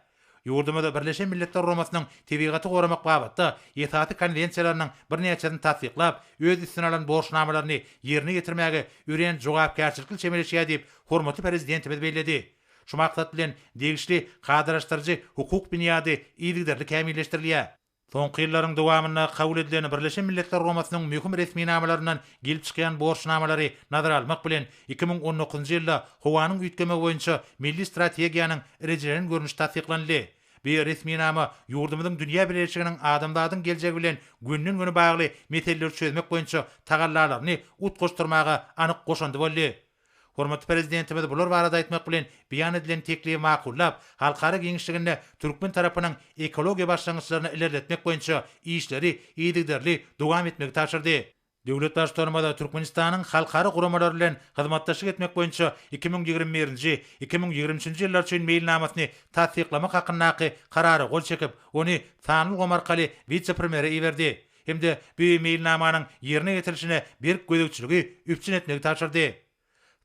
Speaker 2: Ýurdumyzda Birleşen Milletler Guramasynyň Tebigaty goramak babatda esasy konwensiýalarynyň birnäçesini tassyklap, öz üstüne alan borçnamalaryny ýerine ýetirmäge örän jogapkärçilikli çemeleşýär diýip, hormatly Prezidentimiz belledi. Şu maksat bilen, degişli kadalaşdyryjy-hukuk binýady yzygiderli kämilleşdirilýär. Soňky ýyllaryň dowamynda kabul edilen Birleşen Milletler Guramasynyň möhüm resminamalaryndan gelip çykýan borçnamalary nazara almak bilen, iki müň on dokuzynjy ýylda howanyň üýtgemegi boýunça milli strategiýanyň rejelenen görnüşi tassyklanyldy. Bu resminama ýurdumyzyň dünýä bileleşiginiň adamzadyň geljegi bilen gönden-göni bagly meseleleri çözmek boýunça tagallalaryny utgaşdyrmaga anyk goşandy boldy. Hormatly Prezidentimiz bular barada aýtmak bilen, beýan edilen teklibi makullap, halkara giňişliginde türkmen tarapynyň ekologiýa başlangyçlaryny ilerletmek boýunça işleri yzygiderli dowam etmegi tabşyrdy. Döwlet Baştutanymyz Türkmenistanyň halkara guramalary bilen hyzmatdaşlyk etmek boýunça iki müň ýigrimi birinji, iki müň ýigrimi üçünji ýyllar üçin meýilnamasyny tassyklamak hakyndaky Karara gol çekip, ony sanly ulgam arkaly wise-premýere iberdi. hem-de bu meýilnamanyň ýerine ýetirilişine berk gözegçiligi üpjün etmegi tabşyrdy.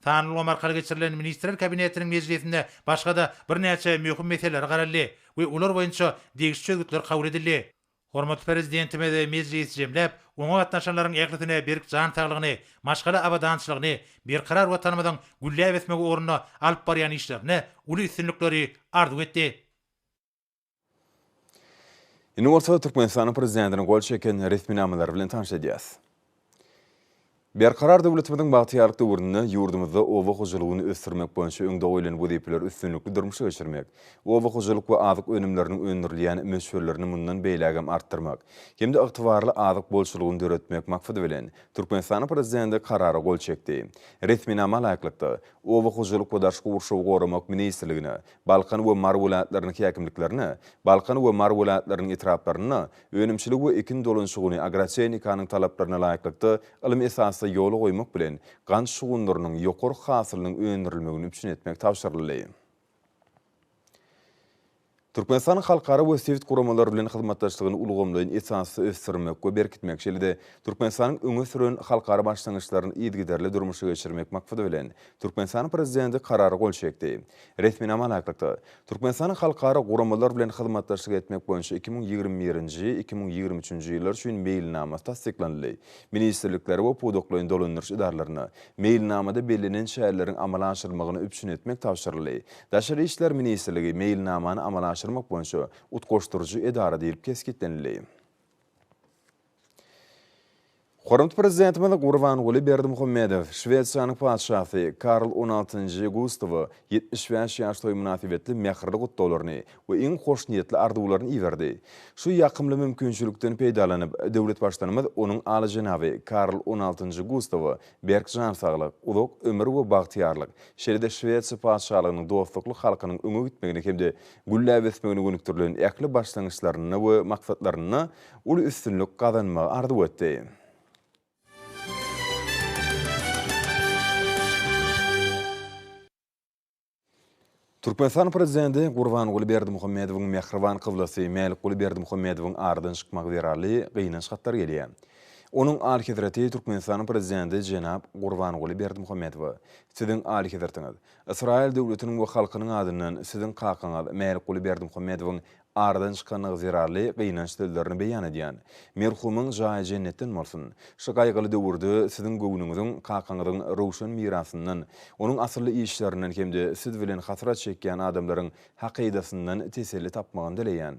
Speaker 2: Sanly ulgam arkaly geçirilen Ministrler Kabinetiniň mejlisinde başga-da birnäçe möhüm meselelere garaldy we olar boýunça degişli çözgütler kabul edildi. Hormatly Prezidentimiz mejlisi jemläp, oňa gatnaşanlaryň ählisine berk jan saglygyny, maşgala abadançylygyny, Berkarar Watanymyzyň gülläp ösmegi ugrunda alyp barýan işlerinde uly üstünlikleri arzuw etdi.
Speaker 1: Indi bolsa Türkmenistanyň prezidentiniň gol çeken resminamalary bilen tanyş edýäs. Berkarar döwletimiziň bagtyýarlyk döwründe ýurdumyzda oba hojalygyny ösdürmek boýunça öňde goýlan wezipeleri üstünlikli durmuşa geçirmek, oba hojalyk we azyk önümleriniň öndürilýän möçberlerini mundan beýläk hem artdyrmak hem-de ygtybarly azyk bolçulygyny döretmek maksady bilen, Türkmenistanyň prezidenti Karara gol çekdi. Resminama laýyklykda, Oba hojalyk we daşky gurşawy goramak ministrligine, Balkan we Mary welaýatlarynyň häkimliklerine, Balkan we Mary welaýatlarynyň etraplarynda önümçilik we ekin dolanyşygyny agrotehnikanyň talaplaryna laýyklykda ylmy esasda ýola goýmak bilen, gant şugundyrynyň ýokary hasylynyň öndürilmegini üpjün etmek tabşyryldy. Türkmenistanyň halkara we sebit guramalary bilen hyzmatdaşlygyny ulgamlaýyn esasda ösdürmek we berkitmek, şeýle-de Türkmenistanyň öňe süren halkara başlangyçlaryny yzygiderli durmuşa geçirmek maksady bilen, Türkmenistanyň Prezidenti Karara gol çekdi. Resminama laýyklykda, Türkmenistanyň halkara guramalar bilen hyzmatdaşlyk etmek boýunça iki müň ýigrimi birinji, iki müň ýigrimi üçünji ýyllar üçin meýilnamasy tassyklanyldy, ministrliklere we pudaklaýyn dolandyryş edaralaryna meýilnamada bellenen çäreleriň amala aşyrylmagyny üpjün etmek tabşyryldy. Daşary işler ministrligi meýilnamany amala aşyrmak boýunça utgaşdyryjy edara diýlip kesgitlenildi. Hormatly Prezidentimiz Gurbanguly Berdimuhamedow Şwesiýanyň Patyşasy Karl on altynjy Gustawa ýetmiş bäş ýaş toýy mynasybetli mähirli gutlaglaryny we iň hoşniýetli arzuwlaryny iberdi. Şu ýakymly mümkinçilikden peýdalanyp, döwlet Baştutanymyz onuň Alyjenaby Karl on altynjy Gustawa berk jan saglyk, uzak ömür we bagtyýarlyk, şeýle-de Şwesiýa Patyşalygynyň dostlukly halkynyň öňe gitmegine hem-de gülläp ösmegine gönükdirilen ähli başlangyçlarynda we maksatlarynda uly üstünlik gazanmagy arzuw etdi. Türkmenistanyň Prezidenti Gurbanguly Berdimuhamedowyň mähriban kyblasy Mälikguly Berdimuhamedowyň aradan çykmagy zerarly gynanç hatlary gelýär. Onuň Alyhezreti Türkmenistanyň Prezidenti jenap Gurbanguly Berdimuhamedowa, Siziň Alyhezretiňiz, Ysraýyl döwletiniň we halkynyň adyndan Siziň kakaňyz Mälikguly Berdimuhamedowyň Aradan çykanlygy zerarly gynanç sözlerini beýan edýän. Merhumyň jaýy jennetden bolsun. Şu gaýgyly döwürde siziň göwnüňiziň kakaňyzyň röwşen mirasyndan, onuň asylly işlerinden hem-de siz bilen hasrat çekýän adamlaryň hakydasyndan teselli tapmagyny dileýän.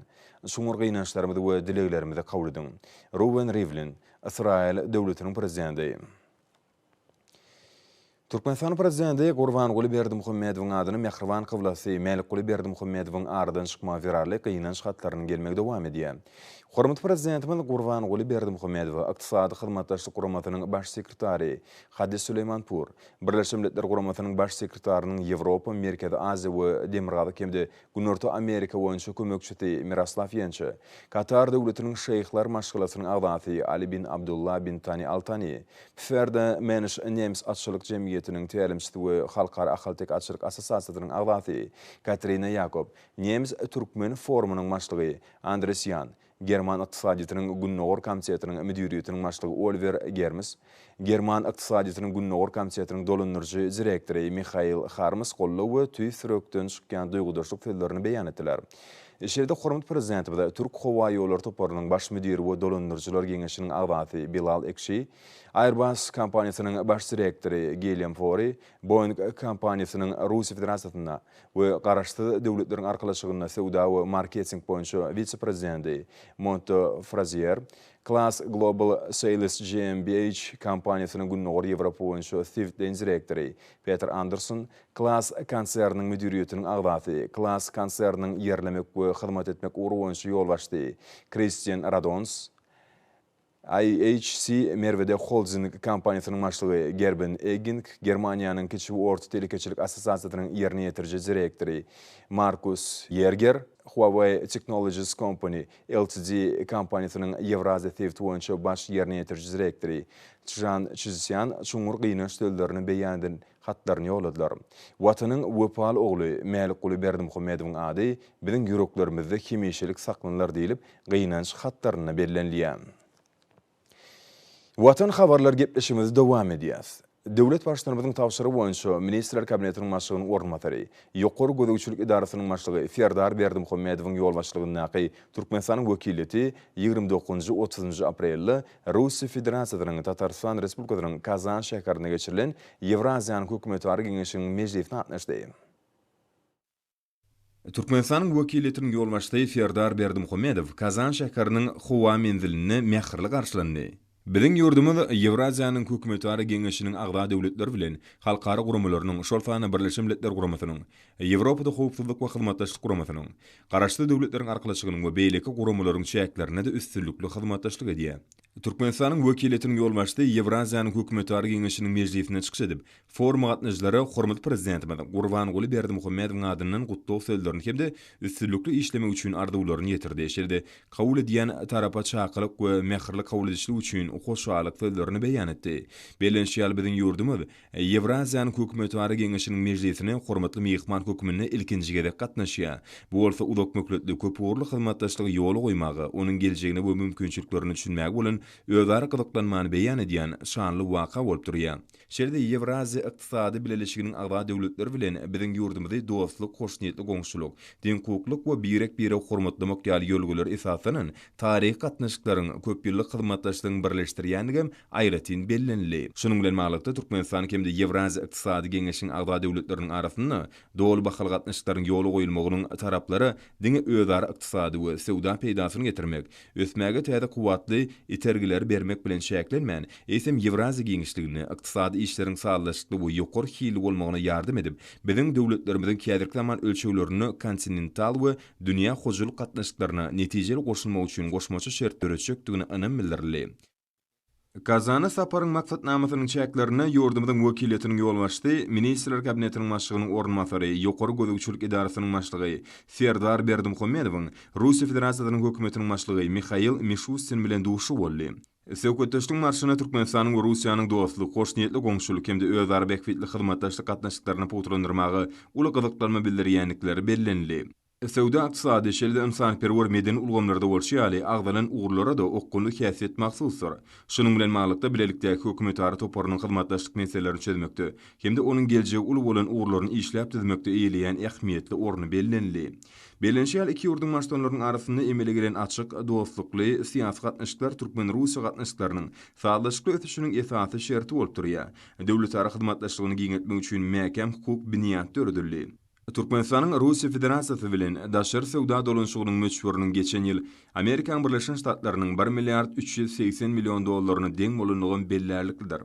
Speaker 1: Çuňňur gynançlarymyzy we dileglerimizi kabul ediň. Ruwen Rivlin, Ysraýyl döwletiniň prezidenti. Türkmenistanyň Prezidenti Gurbanguly Berdimuhamedowyň adyna mähriban kyblasy Mälikguly Berdimuhamedowyň aradan çykmagy zerarly gynanç hatlarynyň gelmegi dowam edýär. Hormatly Prezidentimiz Gurbanguly Berdimuhamedowa Ykdysady Hyzmatdaşlyk Guramasynyň Baş sekretary Hadi Suleýmanpur, Birleşen Milletler Guramasynyň Baş sekretarynyň Ýewropa, Merkezi Aziýa we Demirgazyk hem-de Günorta Amerika boýunça kömekçisi Miroslaw Ýençe, Katar Döwletiniň Şeýhler maşgalasynyň agzasy Ali bin Abdullah bin Tani Al Tani, Pferde Mensch nemes atçylyk jemgyýetiniň tälimçisi we Halkara ahaltek atçylyk assosiasiýasynyň agzasy Katrina Ýakob, Nemes-türkmen forumynyň başlygy Andres Ýan, German ykdysadyýetiniň Gündogar komitetiniň müdiriýetiniň başlygy Oliwer Germes, German ykdysadyýetiniň Gündogar komitetiniň dolandyryjy direktory Mihail Harms goldaw we tüýs ýürekden çykýan duýgudaşlyk sözlerini beýan etdiler. Şeýle-de hormatly Prezidentimiz Türk howa ýollary toparynyň baş müdiri we dolandyryjylar geňeşiniň agzasy Bilal Ekşi, Airbus kompaniýasynyň baş direktory Gilýam Fori, Boeing kompaniýasynyň Russiýa Federasiýasynda we Garaşsyz Döwletleriň Arkalaşygynda söwda we marketing boýunça wise-prezidenti Monto Frazier, Class Global Sales GmbH kompaniýasynyň Gündogar Ýewropa boýunça Swedline direktory Peter Anderson, Class konserniniň müdiriýetiniň agzasy, Class konserniniň ýerlemek we hyzmat etmek ugry boýunça ýolbaşçysy Kristian Radons, IHC Merwede holding kompaniýasynyň başlygy Gerben Egging, Germaniýanyň Kiçi we orta telekeçilik assosiasiýasynyň ýerine ýetiriji direktory Markus Ýerger, Huawei Technologies Company Ltd kompaniýasynyň Ýewraziýa sebiti boýunça baş ýerine ýetiriji direktory Çžan Çžsýan çuňňur gynanç sözlerini beýan eden hatlaryny ýolladylar. Watanyň wepaly ogly Mälikguly Berdimuhamedowyň ady biziň ýüreklerimizde hemişelik saklanylar diýlip, gynanç hatlarynda bellenilýär. Watan habarlar gepleşigimizi dowam edýäs. Döwlet Baştutanymyzyň tabşyrygy boýunça Ministrler Kabinetiniň başlygynyň orunbasary, Ýokary gözegçilik edarasynyň başlygy Serdar Berdimuhamedowyň ýolbaşçylygyndaky Türkmenistanyň wekiliýeti ýigrimi dokuzynjy, otuzynjy aprelde Russiýa Federasiýasynyň Tatarystan Respublikasynyň Kazan şäherinde geçirilen Ýewraziýanyň hökümetara geňeşiniň mejlisine gatnaşdy. Türkmenistanyň wekiliýetiniň ýolbaşçysy Serdar Berdimuhamedow Kazan şäheriniň howa menzilinde mähirli garşylandy. Biziň ýurdumyz Ýewraziýanyň hökümetara geňeşiniň agza döwletleri bilen halkara guramalarynyň, şol sanda Birleşen Milletler Guramasynyň, Ýewropada Howpsuzlyk we Hyzmatdaşlyk Guramasynyň, Garaşsyz Döwletleriň Arkalaşygynyň we beýleki guramalaryň çäklerinde-de üstünlikli hyzmatdaşlyk edýär. Türkmenistanyň wekiliýetiniň ýolbaşçysy Ýewraziýanyň hökümetara geňeşiniň mejlisinde çykyş edip, foruma gatnaşyjylara hormatly Prezidentimiz Gurbanguly Berdimuhamedowyň adyndan gutlag sözlerini hem-de üstünlikli işlemek üçin arzuwlaryny ýetirdi, şeýle-de kabul edýän tarapa çakylyk we mähirli kabul edişlik üçin hoşallyk sözlerini beýan etdi. Bellenişi ýaly, biziň ýurdumyz Ýewraziýanyň Hökümetara geňeşiniň mejlisine hormatly myhman hökmünde ilkinji gezek gatnaşýar. Bu bolsa uzakmöhletli köpugurly hyzmatdaşlygy ýola goýmaga, onuň geljegine we mümkinçiliklerine düşünmäge bolan özara gyzyklanmany beýan edýän şanly waka bolup durýar. Şeýle-de Ýewraziýa Ykdysady Bileleşiginiň agza döwletleri bilen biziň ýurdumyzy dostluk, hoşniýetli goňşulyk, deňhukuklyk we birek-biregi hormatlamak ýaly ýörelgelere esaslanan taryhy gatnaşyklaryň, köpýyllyk hyzmatdaşlygyň birleşdirýändigi hem aýratyn bellenildi. Şunuň bilen baglylykda, Türkmenistan hem-de Ýewraziýa Ykdysady Geňeşiniň agza döwletleriniň arasynda doly bahaly gatnaşyklaryň ýola goýulmagynyň taraplara diňe özara ykdysady we söwda peýdasyny getirmek, ösmäge täze kuwwatly itergileri bermek bilen çäklenmän, eýsem, Ýewraziýa giňişliginde ykdysady işleriň sazlaşykly we ýokary hilli bolmagyna ýardam edip, biziň döwletlerimiziň häzirki zaman ölçeglerinde kontinental we dünýä hojalyk gatnaşyklaryna netijeli goşulmagy üçin goşmaça şert döretjekdigine ynam bildirildi. Kazana saparyň maksatnamasynyň çäklerinde ýurdumyzyň wekiliýetiniň ýolbaşçysy, Ministrler Kabinetiniň Başlygynyň orunbasary, Ýokary gözegçilik edarasynyň başlygy Serdar Berdimuhamedowyň, Russiýa Federasiýasynyň Hökümetiniň başlygy Mihail Mişustin bilen duşuşygy boldy. Söhbetdeşlik marşyna Türkmenistanyň we Russiýanyň dostluk, hoşniýetli goňşulyk hem-de özara bähbitli hyzmatdaşlyk gatnaşyklaryny pugtalandyrmaga uly gyzyklanma bildirýändikleri bellenildi. Söwda-ykdysady, şeýle-de ynsanperwer-medeni ulgamlarda bolşy ýaly, agzalan ugurlara-da okgunly häsiýet mahsusdyr. Şunuň bilen baglylykda, bilelikdäki hökümetara toparynyň hyzmatdaşlyk meselelerini çözmekde hem-de onuň geljegi uly bolan ugurlaryny işläp düzmekde eýeleýän ähmiýetli orny bellenildi. Bellenişi ýaly, iki ýurduň baştutanlarynyň arasynda emele gelen açyk, dostlukly, syýasy gatnaşyklar türkmen-russiýa gatnaşyklarynyň sazlaşykly ösüşiniň esasy şerti bolup durýar. Döwletara hyzmatdaşlygyny giňeltmek üçin mäkäm hukuk binýat döredildi. Türkmenistanyň Russiýa Federasiýasy bilen daşary söwda dolanyşygynyň möçberiniň geçen ýyl Amerikaň Birleşen Ştatlarynyň bir milliard üç ýüz segsen million dollaryna deň bolandygam bellärliklidir.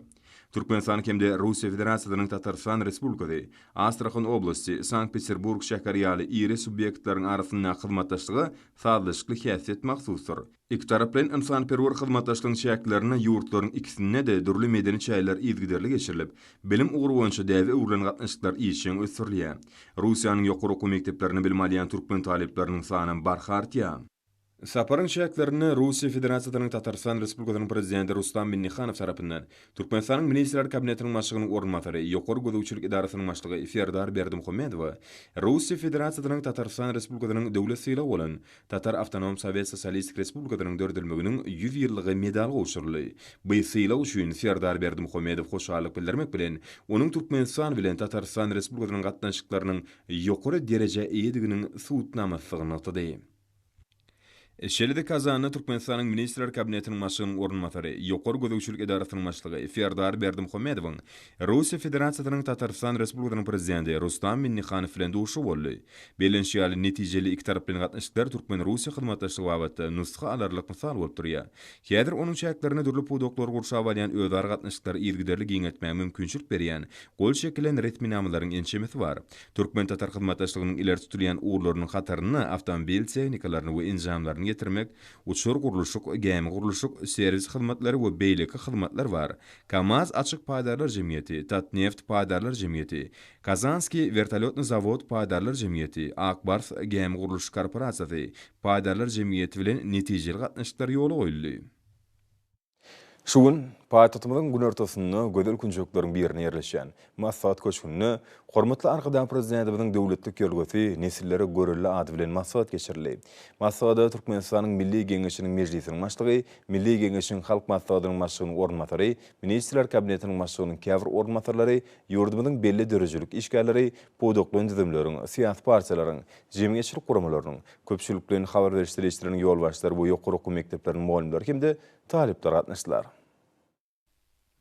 Speaker 1: Türkmenistan hem-de Russiýa Federasiýasynyň Tatarystan Respublikasy, Astrahan oblasty, Sankt-Peterburg şäheri ýaly iri subýektleriň arasyndaky hyzmatdaşlyga sazlaşykly häsiýet mahsusdyr. Ikitaraplaýyn ynsanperwer hyzmatdaşlygyň çäklerinde ýurtlaryň ikisinde-de dürli medeni çäreler yzygiderli geçirilip, bilim ugry boýunça däbe öwrülen gatnaşyklar işjeň ösdürilýär. Russiýanyň ýokary okuw mekdeplerinde bilim alýan türkmen talyplarynyň sanam barha artýar. Saparyň çäklerinde Russiýa Federasiýasynyň Tatarystan Respublikasynyň Prezidenti Rustam Minnihanow tarapyndan Türkmenistanyň Ministrler Kabinetiniň başlygynyň orunbasary, Ýokary gözegçilik edarasynyň başlygy Serdar Berdimuhamedowa Russiýa Federasiýasynyň Tatarystan Respublikasynyň Döwlet sylagy bolan Tatar Awtonom Sowet Sosialistik Respublikasynyň dördülmeginiň ýüz ýyllygy medaly gowşuryldy. Bu sylag üçin Serdar Berdimuhamedow hoşallyk bildirmek bilen, onuň Türkmenistan bilen Tatarystan Respublikasynyň gatnaşyklarynyň ýokary derejä eýediginiň subutnamasydygyny nygtady. Şeýle-de Kazanda Türkmenistanyň Ministrler Kabinetiniň başlygynyň orunbasary, Ýokary gözegçilik edarasynyň başlygy Serdar Berdimuhamedowyň Russiýa Federasiýasynyň Tatarystan Respublikasynyň Prezidenti Rustam Minnihanow bilen duşuşygy boldy. Bellenişi ýaly, netijeli ikitaraplaýyn gatnaşyklar türkmen-russiýa hyzmatdaşlygy babatda nusga alarlyk mysal bolup durýar. Häzir onuň çäklerinde dürli pudaklary gurşap alýan özara gatnaşyklary yzygiderli giňeltmäge mümkinçilik berýän gol çekilen resminamalaryň ençemesi bar. Türkmen-tatar hyzmatdaşlygynyň ileri tutulýan ugurlarynyň hatarynda awtomobil tehnikalaryny we enjamlaryny getirmek, uçar-gurluşyk, gämi-gurluşyk, serwis hyzmatlary we beýleki hyzmatlar bar, Kamaz açyk paýdarlar jemgyýeti, Tatneft paýdarlar jemgyýeti, Kazanskiý wertolýotny zawod paýdarlar jemgyýeti, Ak bars gämi gurluşyk korporasiýasy paýdarlar jemgyýeti bilen netijeli gatnaşyklar ýola goýuldy. Şu gün paýtagtymyzyň günortasynda gözel künjekleriň birinde ýerleşýän Maslahat köşgünde hormatly Arkadag Prezidentimiziň döwletlik ýörgüsi Nesillere görelde ady bilen maslahat geçirildi. Maslahata Türkmenistanyň Milli Geňeşiniň Mejlisiniň Başlygy, Milli Geňeşiň Halk Maslahatynyň Başlygynyň orunbasary, Ministrler Kabinetiniň Başlygynyň käbir orunbasarlary, ýurdumyzyň belli döredijilik işgärleri, pudaklaýyn düzümleriň, syýasy partiýalaryň, jemgyýetçilik guramalarynyň, köpçülikleýin habar beriş serişdeleriniň ýolbaşçylary we ýokary okuw mekdepleriniň mugallymlary hem-de talyplar gatnaşdylar.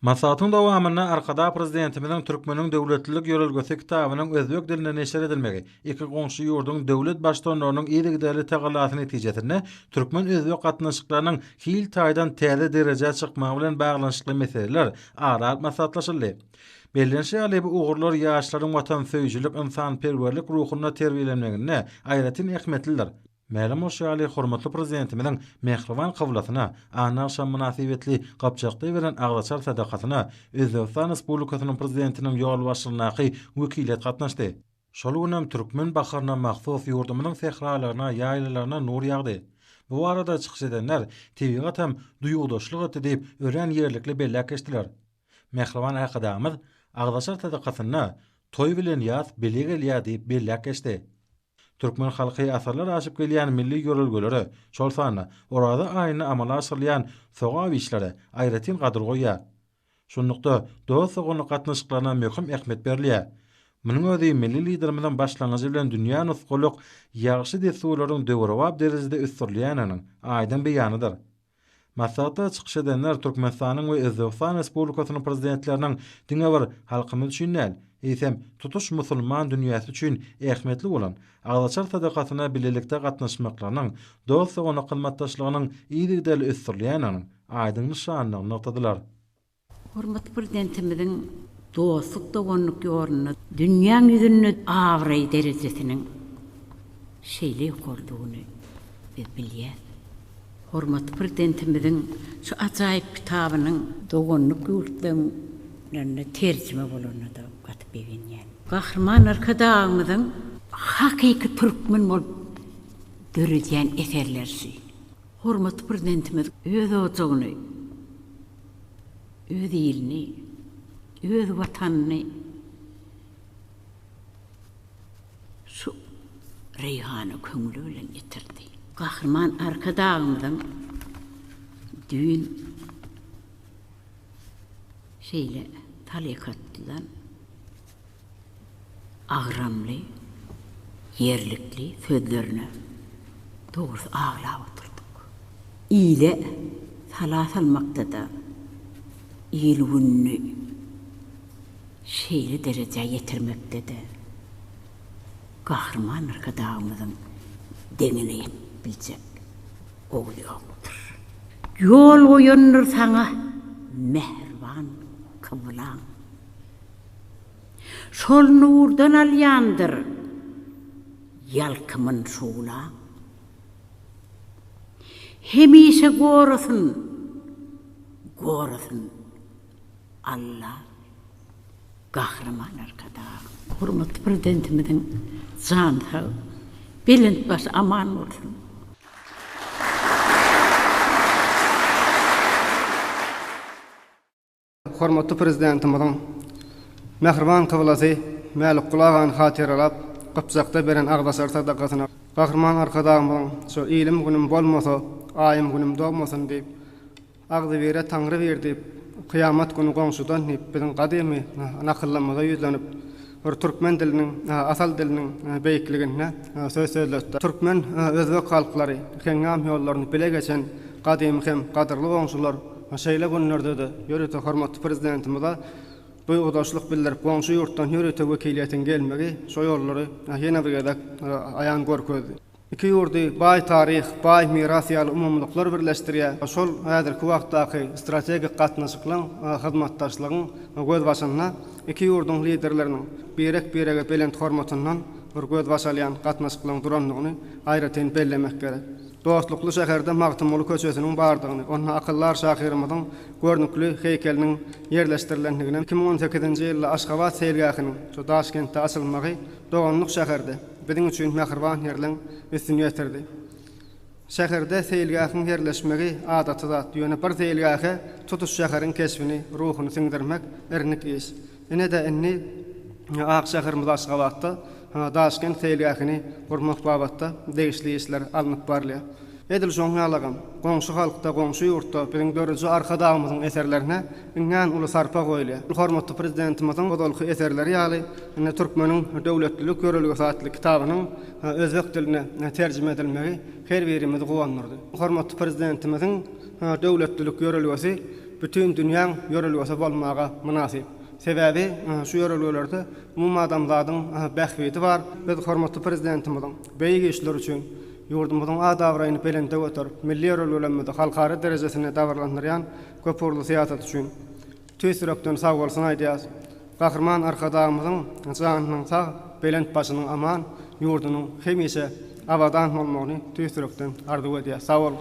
Speaker 1: Maslahatyň
Speaker 3: dowamynda Arkadag Prezidentimiziň Türkmeniň döwletlilik ýörelgesi kitabynyň özbek dilinde neşir edilmegi, iki goňşy ýurduň döwlet Baştutanlarynyň yzygiderli tagallasy netijesinde türkmen-özbek gatnaşyklarynyň hil taýdan täze derejä çykmagy bilen baglanyşykly meseleler ara alyp maslahatlaşyldy. Bellenişi ýaly, bu ugurlar ýaşlaryň watansöýüjilik, ynsanperwerlik ruhunda terbiýelenmeginde aýratyn ähmiýetlidir. Mälim bolşy ýaly, hormatly Prezidentimiziň mähriban kyblasyna Anna agşamy mynasybetli Gapjakda beren agzaçar sadakasyna Özbegistan Respublikasynyň Prezidentiniň ýolbaşçylygyndaky wekiliýet gatnaşdy. Şol gün hem türkmen baharyna mahsus ýurdumyzyň sähralaryna, ýaýlalaryna nur ýagdy. Bu barada çykyş edenler tebigat hem duýgudaşlyk etdi diýip, örän ýerlikli belläp geçdiler. Mähriban Arkadagymyz agzaçar sadakasynda Toý bilen ýaz bile gelýär diýip belläp geçdi. Türkmen halky asyrlar aşyp gelýän milli ýörelgelere, şol sanda Oraza aýynda amala aşyrylýan sogap işlere aýratyn gadyr goýýar. Şunlukda, dost-doganlyk gatnaşyklaryna möhüm ähmiýet berilýär. Munuň özi milli Liderimiziň başlangyjy bilen dünýä nusgalyk ýagşy dessurlaryň döwrebap derejede ösdürilýändiginiň aýdyň beýanydyr. Maslahatda çykyş edenler Türkmenistanyň we Özbegistan Respublikasynyň Prezidentleriniň diňe bir halkymyz üçin däl, eýsem, tutuş musulman dünýäsi üçin ähmiýetli bolan Agzaçar sadakasyna bilelikde gatnaşmaklarynyň, dost-doganlyk hyzmatdaşlygynyň yzygiderli ösdürilýändiginiň aýdyň nyşanydygyny nygtadylar. Hormatly
Speaker 4: Prezidentimiziň dostluk, doganlyk ýolunda dünýäň ýüzünde abraý derejesiniň şeýle ýokarydygyny biz bilýäs. Hormatly Prezidentimiziň şu ajaýyp kitabynyň doganlyk ýurtlarynda terjime bolanyna-da gaty begenýän. Gahryman Arkadagymyzyň hakyky türkmen bolup döredýän eserleri şu. Hormatly Prezidentimiz öz ojagyny, öz ilini, öz Watanyny şu Reýhana köňli bilen ýetirdi. Gahryman Arkadagymyzyň düýn şeýle talyk atdylar. agramly, ýerlikli sözlerine dogrusy aglap otyrdyk. Ile sala salmakda-da il-gününi şeýle derejä ýetirmekde-de Gahryman Arkadagymyzyň deňine ýetip biljek oguly ýokdur. Ýol goýandyr saňa mähriban kyblaň. Şol nurdan alýandyr ýalkymyn şuglaň. Hemişe gorasyn, gorasyn Alla Gahryman Arkadagym. Hormatly Prezidentimiziň jany sag, belent başy aman bolsun!
Speaker 5: Hormatly Prezidentimiziň mähriban kyblasy Mälikguly agany hatyralap, Gypjakda beren agzaçar sadakasyna Gahryman Arkadagymyzyň şu Ilim-günüm bolmasa, aýym-günüm dogmasyn diýip, Agzybire Taňry bir diýip, Kyýamat güni goňşudan diýip biziň gadymy nakyllarymyza ýüzlenip, bir türkmen diliniň, asal diliniň beýikligine söz sözletdi. Türkmen, özbek halklary heňňam ýollaryny bile geçen gadymy hem gadyrly goňşular. We şeýle günlerde-de ýörite hormatly Prezidentimize duýgudaşlyk bildirip, goňşy ýurtdan ýörite wekiliýetiň gelmegi şo ýollary ýene bir gezek aýan görkezdi. Iki ýurdy baý taryh, baý miras ýaly umumylyklar birleşdirýär. Şol häzirki wagtdaky strategik gatnaşyklaryň, hyzmatdaşlygyň gözbaşynda iki ýurduň Liderleriniň birek-birege belent hormatyndan bir gözbaş alýan gatnaşyklaryň durandygyny aýratyn bellemek gerek. Dostlukly şäherde Magtymguly köçesiniň bardygyny, onda akyldar şahyrymyzyň görnükli heýkeliniň ýerleşdirilendigini, iki müň on sekizinji ýylda Aşgabat seýilgähiniň şu Daşkentde açylmagy doganlyk şäherde, biziň üçin mähriban ýerleň üstüni ýetirdi. Şäherde seýilgähiň ýerleşmegi adaty zat, ýöne bir seýilgähe tutuş şäheriň keşbini, ruhuny siňdirmek irnik iş. Ine-de indi ak şäherimiz Aşgabatda Daşkent seýilgähini gurmak babatda degişli işler alnyp barylýar. Edil şoň ýalagam, goňşy halkda, goňşy ýurtda biziň dörüji Arkadagymyzyň eserlerine iňňän uly sarpa goýulýar. Hormatly Prezidentimiziň ozalky eserleri ýaly, indi Türkmeniň döwletlilik ýörelgesi atly kitabynyň özbek diline terjime edilmegi her birimizi guwandyrdy. Hormatly Prezidentimiziň döwletlilik ýörelgesi bütin dünýäň ýörelgesi bolmaga mynasyp. Sebäbi şu ýörelgelerde umumadamzadyň bähbidi bar. Biz hormatly Prezidentimiziň beýik işleri üçin ýurdumyzyň at-abraýyny belende göterip, milli ýörelgelerimizi halkara derejesinde dabaralandyrýan köpugurly syýasaty üçin tüýs ýürekden sagbolsun aýdýarys. Gahryman Arkadagymyzyň janynyň sag, belent başynyň aman, ýurdunyň hemişe abadan bolmagyny tüýs ýürekden arzuw edýäs. Sag boluň!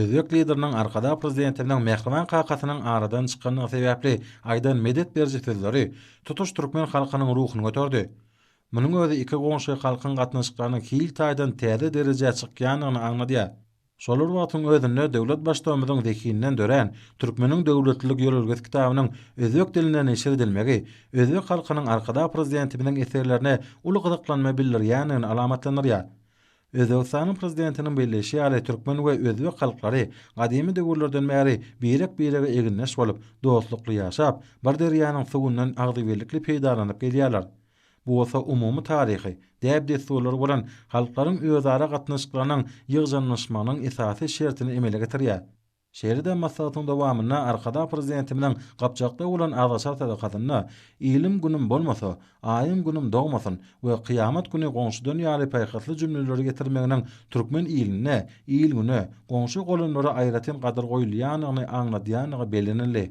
Speaker 3: Özbek Lideriniň Arkadag Prezidentiniň mähriban kakasynyň aradan çykandygy sebäpli aýdan medet beriji sözleri tutuş türkmen halkynyň ruhuny göterdi. Munuň özi iki goňşy halkyň gatnaşyklarynyň hil taýdan täze derejä çykýandygyny aňladýar. Şol bir wagtyň özünde döwlet Baştugumyzyň zehinden dörän Türkmeniň döwletlilik ýörelgesi kitabynyň özbek dilinde neşir edilmegi özbek halkynyň Arkadag Prezidentimiziň eserlerine uly gyzyklanma bildirýändigini alamatlandyrýar. Özbegistanyň Prezidentiniň belleýşi ýaly türkmen we özbek halklary gadymy döwürlerden bäri birek-birege egindeş bolup, dostlukly ýaşap, bir derýanyň suwundan agzybirlikli peýdalanyp gelýärler. Bu bolsa umumy taryhy, däp-dessurlary bolan halklaryň özara gatnaşyklarynyň ýygjamlaşmagynyň esasy şertini emele getirýär. Şeýle-de maslahatyň dowamynda Arkadag Prezidentimiziň Gapjakda bolan azgyçar sadakasynda Ilim günüm bolmasa, aýym günüm dogmasyn we Kyýamat güni goňşudan ýaly paýhasly jümleleri getirmeginiň türkmen ilinde, il-güne, goňşy-golamlara aýratyn gadyr goýulýandygyny aňladýandygy bellenildi.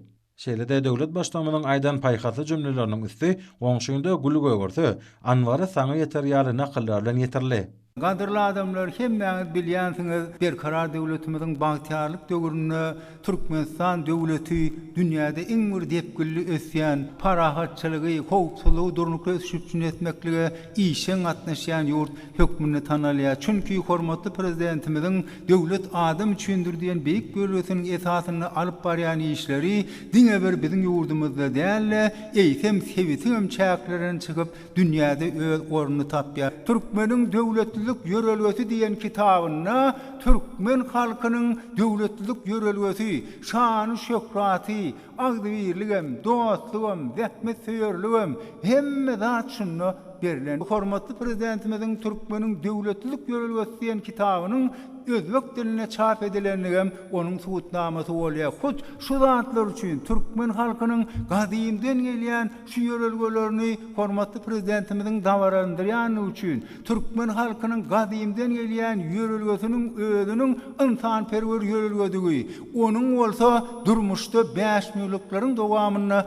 Speaker 3: Şeýle-de döwlet Baştutanymyzyň aýdan paýhasly jümleleriniň üsti Goňşyňda gül gögerse, anbary saňa ýeter ýaly nakyllar bilen ýetirildi. Gadyrly adamlar,
Speaker 6: hemmäňiz bilýänsiňiz, Berkarar döwletimiziň bagtyýarlyk döwründe Türkmenistan döwleti dünýäde iň bir depginli ösýän, parahatçylygy, howpsuzlygy durnukly ösüş üpjün etmeklige işjeň gatnaşýan ýurt hökmünde tanalýar, çünki hormatly Prezidentimiziň Döwlet adam üçindir! diýen beýik ýörelgesiniň esasynda alyp barýan işleri diňe bir biziň ýurdumyzda däl-de, eýsem, sebitiňem çäklerinden çykyp, dünýäde öz ornuny tapýar. Türkmeniň döwletlilik ýörelgesi diýen kitabynda türkmen halkynyň döwletlilik ýörelgesi, şany-şöhraty, Agzybirligem, dostlugam, zähmetsöýerligem, hemme zat şunda berlen. Hormatly Prezidentimiziň Türkmeniň döwletlilik ýörelgesi diýen kitabynyň özbek dilinde çap edilendigem onuň subutnamasy bolýar. Hut şu zatlar üçin türkmen halkynyň gadymdan gelýän şu ýörelgelerini hormatly Prezidentimiziň dabaralandyrýandygy üçin, Türkmen halkynyň gadymdan gelýän ýörelgesiniň özüniň ynsanperwer ýörelgedigi, onuň bolsa durmuşda bäşmüýlükleriň dowamynda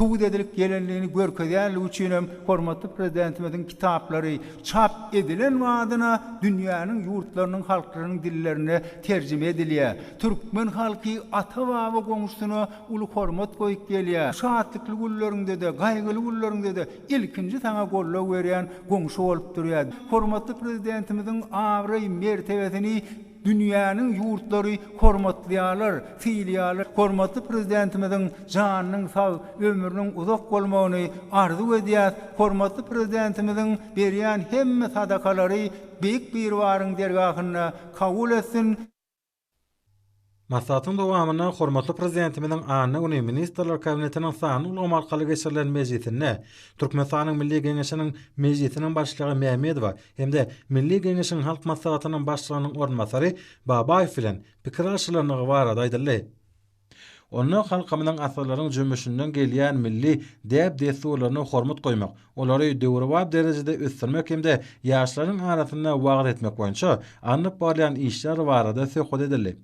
Speaker 6: subut edilip gelendigini görkezýändigi üçin hem hormatly Prezidentimiziň kitaplary çap edilen badyna dünýäniň ýurtlarynyň halklarynyň dillerine terjime edilýär. Türkmen halky ata-baba goňşusyna uly hormat goýup gelýär. Şatlykly günleriňde-de, gaýgyly günleriňde-de. Ilkinji saňa goldaw berýän goňşy bolup durýar. Hormatly Prezidentimiziň abraý-mertebesini dünýäniň ýurtlary hormatlaýarlar, sylaýarlar. Hormatly Prezidentimiziň janynyň sag, ömrüniň uzak bolmagyny arzuw edýäs. Hormatly Prezidentimiziň berýän hemme sadakalary Beýik Biribaryň dergahynda kabul etsin! Maslahatyň
Speaker 3: dowamynda hormatly Prezidentimiziň anna güni Ministrler Kabinetiniň sanly ulgam arkaly geçirilen mejlisinde Türkmenistanyň Milli Geňeşiniň Mejlisiniň Başlygy Mämmedowa hem-de Milli Geňeşiň Halk Maslahatynyň Başlygynyň orunbasary Babaýew bilen pikir alyşylandygy barada aýdyldy. Onda halkymyzyň asyrlaryň jümmüşinden gelýän milli däp-dessurlaryna hormat goýmak, olary döwrebap derejede ösdürmek hem-de ýaşlaryň arasynda wagyz etmek boýunça alnyp barylýan işler barada söhbet edildi.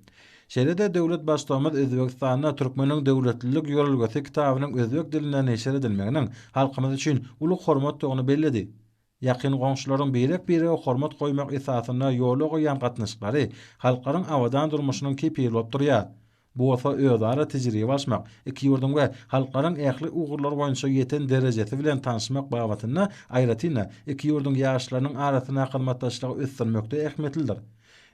Speaker 3: Şeýle-de döwlet Baştugumyz Özbegistanda Türkmeniň döwletlilik ýörelgesi kitabynyň özbek dilinde neşir edilmeginiň halkymyz üçin uly hormatdygyny belledi. Ýakyn goňşularyň birek-birege hormat goýmak esasynda ýola goýýan gatnaşyklary halklaryň abadan durmuşynyň kepili bolup durýar. Bu bolsa özara tejribe alşmak, iki ýurduň we halklaryň ähli ugurlar boýunça ýeten derejesi bilen tanşmak babatynda, aýratyn-da, iki ýurduň ýaşlarynyň arasyndaky hyzmatdaşlygy ösdürmekde ähmiýetlidir.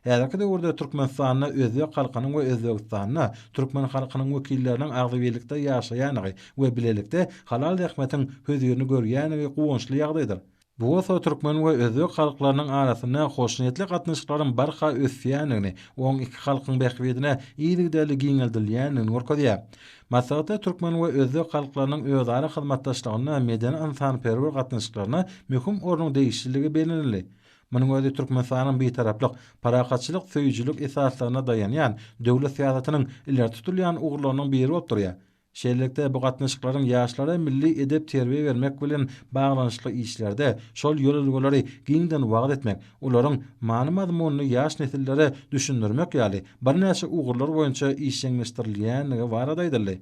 Speaker 3: Häzirki döwürde Türkmenistanda özbek halkynyň we Özbegistanda türkmen halkynyň wekilleriniň agzybirlikde ýaşaýandygy we bilelikde halal zähmetiň hözirini görýändigi guwançly ýagdaýdyr. Bu bolsa türkmen we özbek halklarynyň arasynda hoşniýetli gatnaşyklaryň barha ösýändigini, oň iki halkyň bähbidine yzygiderli giňeldilýändigini görkezýär. Maslahatda türkmen we özbek halklarynyň özara hyzmatdaşlygynda medeni-ynsanperwer gatnaşyklaryna möhüm ornuň degişliligi bellenildi. Munuň özi Türkmenistanyň bitaraplyk, parahatçylyk söýüjilik esaslaryna daýanýan döwlet syýasatynyň ileri tutulýan ugurlarynyň biri bolup durýar. Şeýlelikde, bu gatnaşyklaryň ýaşlara milli edep-terbiýe bermek bilen baglanyşykly işlerde şol ýörelgeleri giňden wagyz etmek, olaryň many-mazmunyny ýaş nesillere düşündirmek ýaly birnäçe ugurlar boýunça işjeňleşdirilýändigi barada aýdyldy.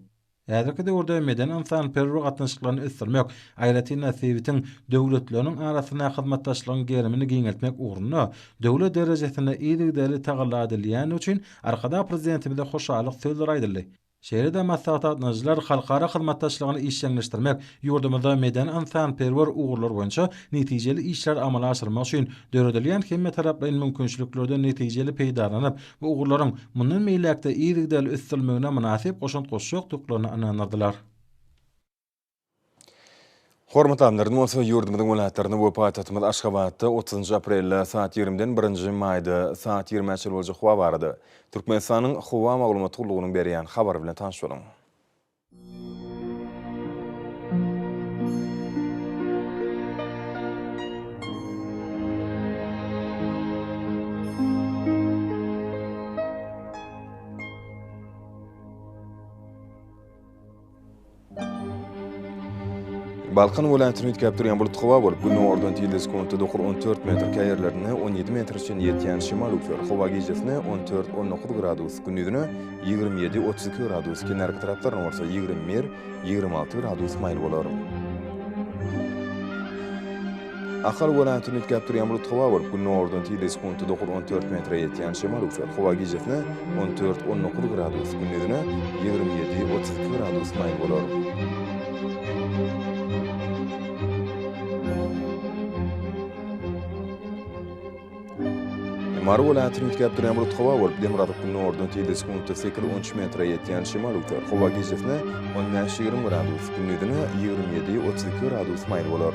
Speaker 3: Häzirki döwürde medeni-ynsanperwer gatnaşyklaryny ösdürmek, aýratyn-da sebitiň döwletleriniň arasynda hyzmatdaşlygyň gerimini giňeltmek ugrunda döwlet derejesinde yzygiderli tagalla edilýändigi üçin Arkadag Prezidentimize hoşallyk sözleri aýdyldy. Şeýle-de maslahat gatnaşyjylar halkara hyzmatdaşlygyny işjeňleşdirmek, ýurdumyzda medeni-ynsanperwer ugurlar boýunça netijeli işleri amala aşyrmak üçin döredilýän hemmetaraplaýyn mümkinçiliklerden netijeli peýdalanyp, bu ugurlaryň mundan beýläk-de yzygiderli ösdürilmegine mynasyp goşant goşjakdyklaryna ynandyrdylar.
Speaker 1: Hormatly Amirimiz bolsa ýurdumyzyň welaýatlarynda we paýtagtymyz Aşgabatda otuzynjy aprelde saat ýigrimiden birinji maýda saat ýigrimä çenli boljak howa barada Türkmenistanyň Howa maglumat gullugynyň berýän habary bilen tanyş boluň. Balkan welaýatyny üýtgäp durýan bulut howa bolup, günordan tizligi sekuntda dokur on dört metr, käýerlerinde on ýedi metre çenli ýetýän şemal üflär. Howa gijesi-ne on dört, on dokuz gradus, gündizine Ýigrimi ýedi, otuz iki gradus kenarki taraplarynda bolsa ýigrimi bir, ýigrimi alty gradus maýyl bolar. Ahal welaýatyny üýtgäp durýan bulut howa bolup, gündogardan tizligi sekuntda dokuz-on dört metre ýetýän şemal öwser. Howa gijesine on dört, on dokuz gradus, gündizine ýigrimi ýedi, otuz iki gradus maýyl bolar. Mary welaýatyny üýtgäp durýan bulut howa bolup, demirgazyk gündogardan tizligi sekuntda sekiz on üç metre ýetýän şemal öwser. Howa gijesine on bäş ýigrimi gradus, gündizine ýigrimi ýedi otuz iki gradus maýyl bolar.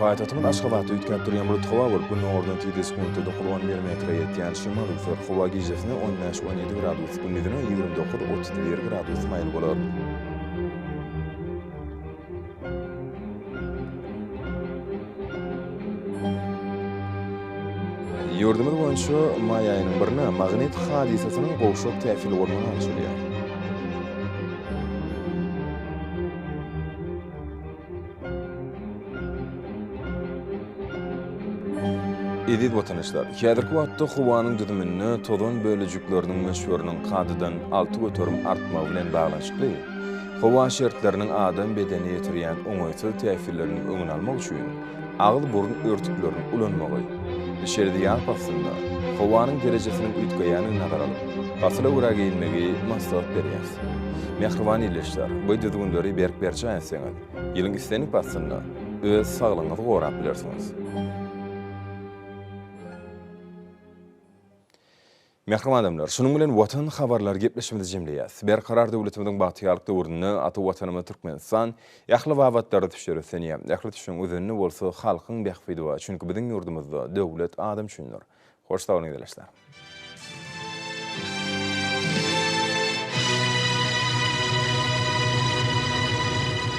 Speaker 1: Paýtagtymyz Aşgabatda üýtgäp durýan bulut howa bolup, Gün ýokardan tizde sekuntda dokuz-on bir metre ýetýän şemal üwser. Howa gijesine on bäş-on ýedi gradus, gündizine ýigrimi dokuz-otuz bir gradus maýyl bolar. Ýurdumyz boýunça maý aýynyň birine magnit hadysasynyň gowşak täsir bolmagy alşylýar. Eziz watandaşlar! Häzirki wagtda howanyň düzüminde tozan bölejikleriniň möçberiniň kadadan alty göterim artmagy bilen baglanyşykly, Howa şertleriniň adam bedenine ýetirýän oňaýsyz täsirleriniň öňüni almak üçin agyz-burun örtüklerini ulanmagy, içeride ýaz paslynda howanyň derejesiniň üýtgeýänini nazara alyp, pasyla görä geýinmegi maslahat berýäris. Mähriban ildeşler, bu düzgünleri berk berjaý etseňiz, ýylyň islendik paslynda öz saglygyňyzy gorap bilersiňiz. Mähriban adamlar, şunuň bilen Watan habarlary gepleşigimizi jemleýäs. Berkarar döwletimiziň bagtyýarlyk döwründe ata Watanymyz Türkmenistan ähli babatlarda düşer ösenýär. Ähli düşüň özenini bolsa halkyň bähbidi bar, çünki biziň ýurdumyzda döwlet adam üçindir. Hoş sag boluň ildeşler.